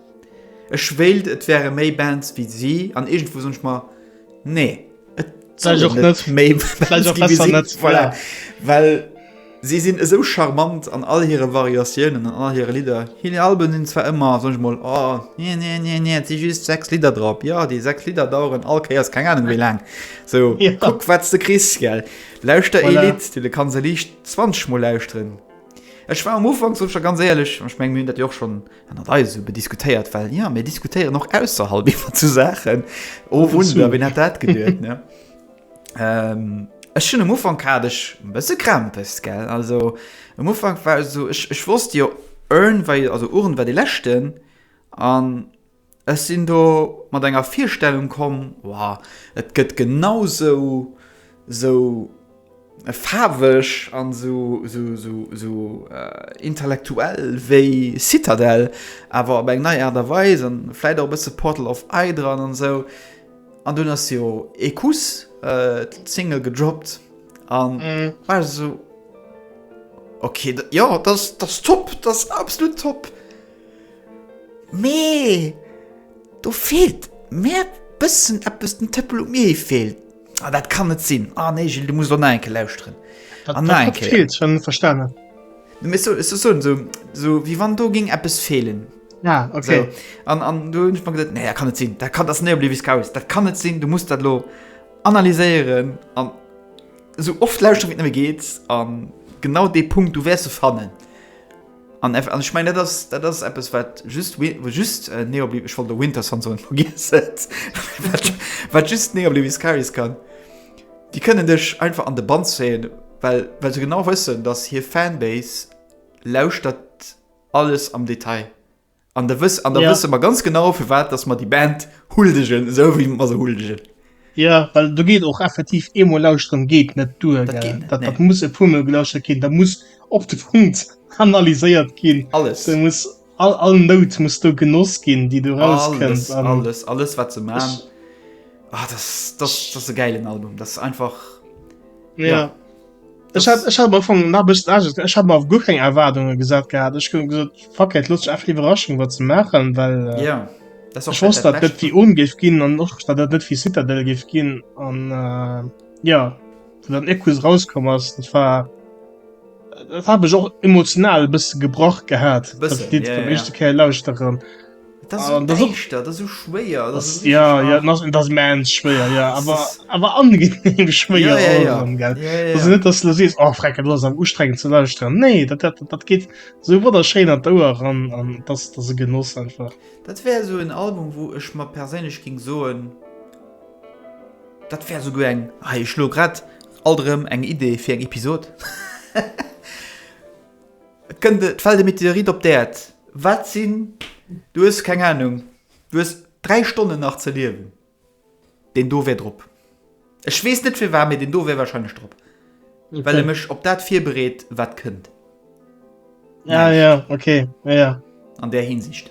Ech wéilt et wäre méi Bands wéi si an iergendwou soen ech mer nee et soll een net méi Bands gi wéi si. Voilà. Well si sinn esou charmant an all hire Variatiounen an all hire Lidder. Hir Alben sinn zwar ëmmer, soen ech mol, oh nee nee nee nee et si just 6 Lidder drop. Jo déi 6 Lidder daueren all Kéiers keng Anung wéi laang. Sou kuck wat s de kriss gell. Lauschter ee Lidd, du kanns e Licht 20 mol lauschteren. Ech war um Ufank, soen ech der ganz éierlech, an ech mengen, mir hunn dat jo och schonn ënnert eis esou bediskutéiert, well jo, mir diskutéieren och ausserhalb iwwer zu Saachen, oh Wunder, wien hätt dat geduet, ne? Ech hunn um Ufank hat ech e bësse Krämpes, gell. Also um Ufank war ech esou, ech wosst jo, Urn war jo, also Urn war dee leschten an. Ech sinn do mat enger Virstellung komm, Wow, et gëtt genausou sou faarweg an sou intellektuell wéi Citadel, awer op eng nei Aart a Weis an vläit och e bësse Portal of I dran an sou. An dunn ass jo ee Kuss d'Single gedroppt an war ech sou, Ok, jo, dat ass top, dat ass absolut top. Mee do feelt mär bëssen eppes, den Tëppel um i feelt. Ah, dat kann net sinn. Ah nee, Gilles, du muss elo nach eng Kéier lauschteren. An nach eng Kéier. Feelt, schon verstane. Nee, mee sou, sou soen, sou, sou wéi wann do géing eppes feelen. Ah, okay. Sou, an, an do hunn ech mer gesot, nee, dat kann net sinn, dat kann, dat ass Neoblier Viscouris, dat kann net sinn, du muss dat elo analyséieren an esou oft lauschteren, wéi et nëmme geet, a genau dee Punkt, du wäers e fannen. An eff, an ech mengen, dat ass, dat ass eppes, wat just Wi-, wat just Neobli-, ech wollt elo Winterson soen, vergiess et, wat, wat just Neobliviscaris kann, déi kënnen dech einfach an de Bann zéien, well, well se genau wëssen, datt hir Fanbase lauschtert alles am Detail. An da wëss, an da ja. wësse mer ganz genau fir wat dass mer die Band huldegen esou wie mer se huldegen. Ja well du geet och effektiv eemo lausren geet net du dat, dat, nee. dat muss e pummel gelauscher ginn da muss op de Punkt analyséiert ginn alles du muss all, all Not muss du genoss ginn die du raus alles, alles alles wat ze ma ah, das, das, das e geilen Album das einfach ja. ja. Ech hat ech hat am Anfang nach bëssen Angst, ech hat mal guer keng Erwartungen gesat gehabt. Ech hun gesot fuck it, looss ech einfach Iwwerraschung wat ze maachen, well äh, Ja, dat ass och ech wosst dat dat net Bescht. fir Ohm géif ginn an och dat dat net fir Citadel géif ginn an äh, ja wou dann Equus rauskomm ass, dat war dat hat mech och emotional e bësse gebrach gehat, Bëssen, dat Lidd ja, beim ja. éischte Kéier lauschteren. Dat ass esou däischter, dat ass esou schwéier. Dat ass ja, ja, dat ass, dat mens schwéier, ja. Ah, awer awer angenehm schwéier ja, ja, ja. gell. Ja, ja, ja. net, dass du sees oh, freck, du ass am ustrengen ze lausren. Nee, dat, dat, dat geht so wat der Schein an d'Ouer ran an dass dat se genoss einfach. Dat wär so en Album, wo ech mat perélech ging soen. Dat wär so go eng hei schlo grad alterm eng Idee fir eng Episod. Et kënnt et fält e Meteorit op d'Äerd. Wat sinn, du hues keng Anung, du hues dräi Stonnen nach ze liewen, deen do wär drop. Ech weess net firwat, mee deen do wär warscheinlech drop, well e mech op dat virbereet, wat kënnt. An där Hinsicht.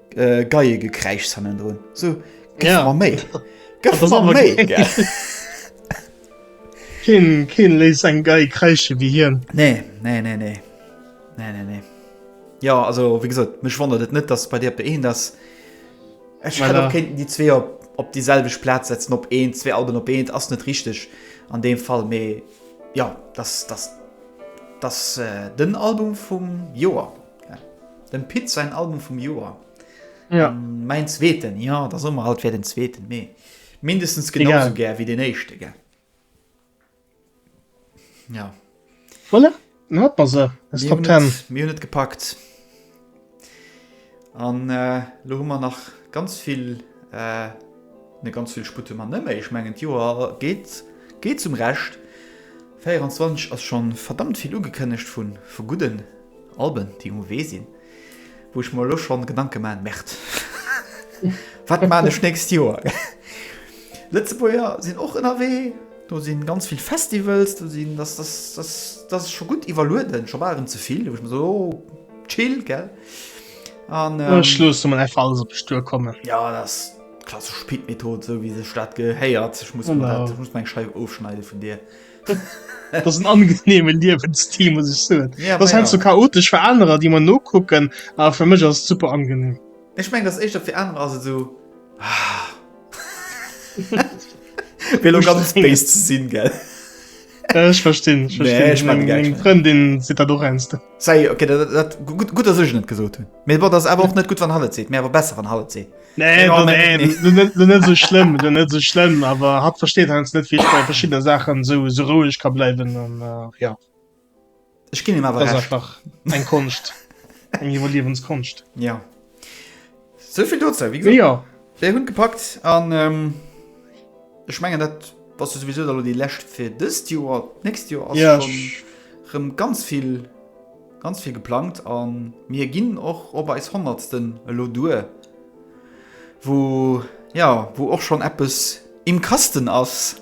Äh, geie Gekräischs hannen drun. So, gëff Ja. mer méi. Gëff Das ist mer aber méi. geil. gell? Keen, keen léis eng gei kreische wie hien. Nee, nee, nee, nee. Nee, nee, nee. Ja, also, wie gesagt, mich wundert es nicht, dass bei dir op der een das. Ich Voilà. voilà. könnten die zwei op, op dieselbe Platz setzen, op een, zwei Alben op een, das ist nicht richtig. An dem Fall, me, ja, das, das, das, äh, den Album vom Joa. Dem Pit säin Album vum Joer. Ja. Ähm, mäin zweeten, ja, da sommer alt wär den zweeten, mee mindestens genau so gär wie den éischte ge. Ja. Voilà. Hat man se. Ist Top 10. Mir net gepackt. An äh, lo hu man nach ganz vill äh, ne ganz vill Sputte man nëmme. Ech mengen Joer geht geht zum Recht. 24 ass schon verdammt vill ugekënnecht vun vu gudden Alben déi um Wee sinn, wou ech mer elo schonn Gedanke maachen, Merd, wat maan ech nächst Joer? Lëtzebuerger sinn och ënnerwee, do sinn ganz vill Festivals, do sinn, dass dass dass dass ech scho gutt iwwerlueden, scho bal erëm ze vill, wou ech mer soen, oh, chill, gell? An ähm, Ech loosse mer einfach alles op mech duerkommen. Ja, dat ass d'klassesch Pit-Method, esou wéi sech dat gehéiert. Ech muss mer dat, Genau. ech muss meng Scheif ofschneide vun dir. das angenehme Liwensstil muss ich so ja, das heißt ja. so chaotisch für andere die man no gucken aber für mich ist super angenehm ich mein das echt für andere also so ah. will ganz space zu sinn gell äh, ich verstehen, ich verstehen. Nee, ich mein, Freundin sieht da doch ernst Salut, okay, dat, dat, dat, gut, gut, dass ich net gesot hun. Mir war das awer och net gut wann Halle seet, mir awer besser wann Halle seet. Nee, du, nee, du, net, du net so schlimm, du net so schlimm, awer hat versteet hans net wie ich bei verschiedene Sachen so so ruhig ka bleiwen an äh, ja. Ech ginn him awer Das ist recht. einfach eng Konscht. Eng Iwwerliewenskonst. Ja. Souvill dozou, wéi gesot. Ja. Mir hunn gepackt an ähm, ech mengen dat was du sowieso da déi Läscht fir dëst Joer, nächst Joer ass ja, schon rëm ganz vill ganz vill geplangt an mir ginn och op eis honnertsten elo duer wo ja wo och schon Appes im Kasten ass.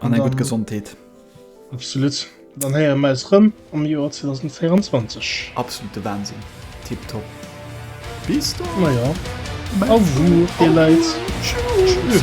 an eng gutt Gesondheet. Absolut. Dann héiere mer eis rëm am Joer 2024. Absolute Wahnsinn. Tip top. Bis dann. Na jo. Au revoir, dir Leit. Tschüss.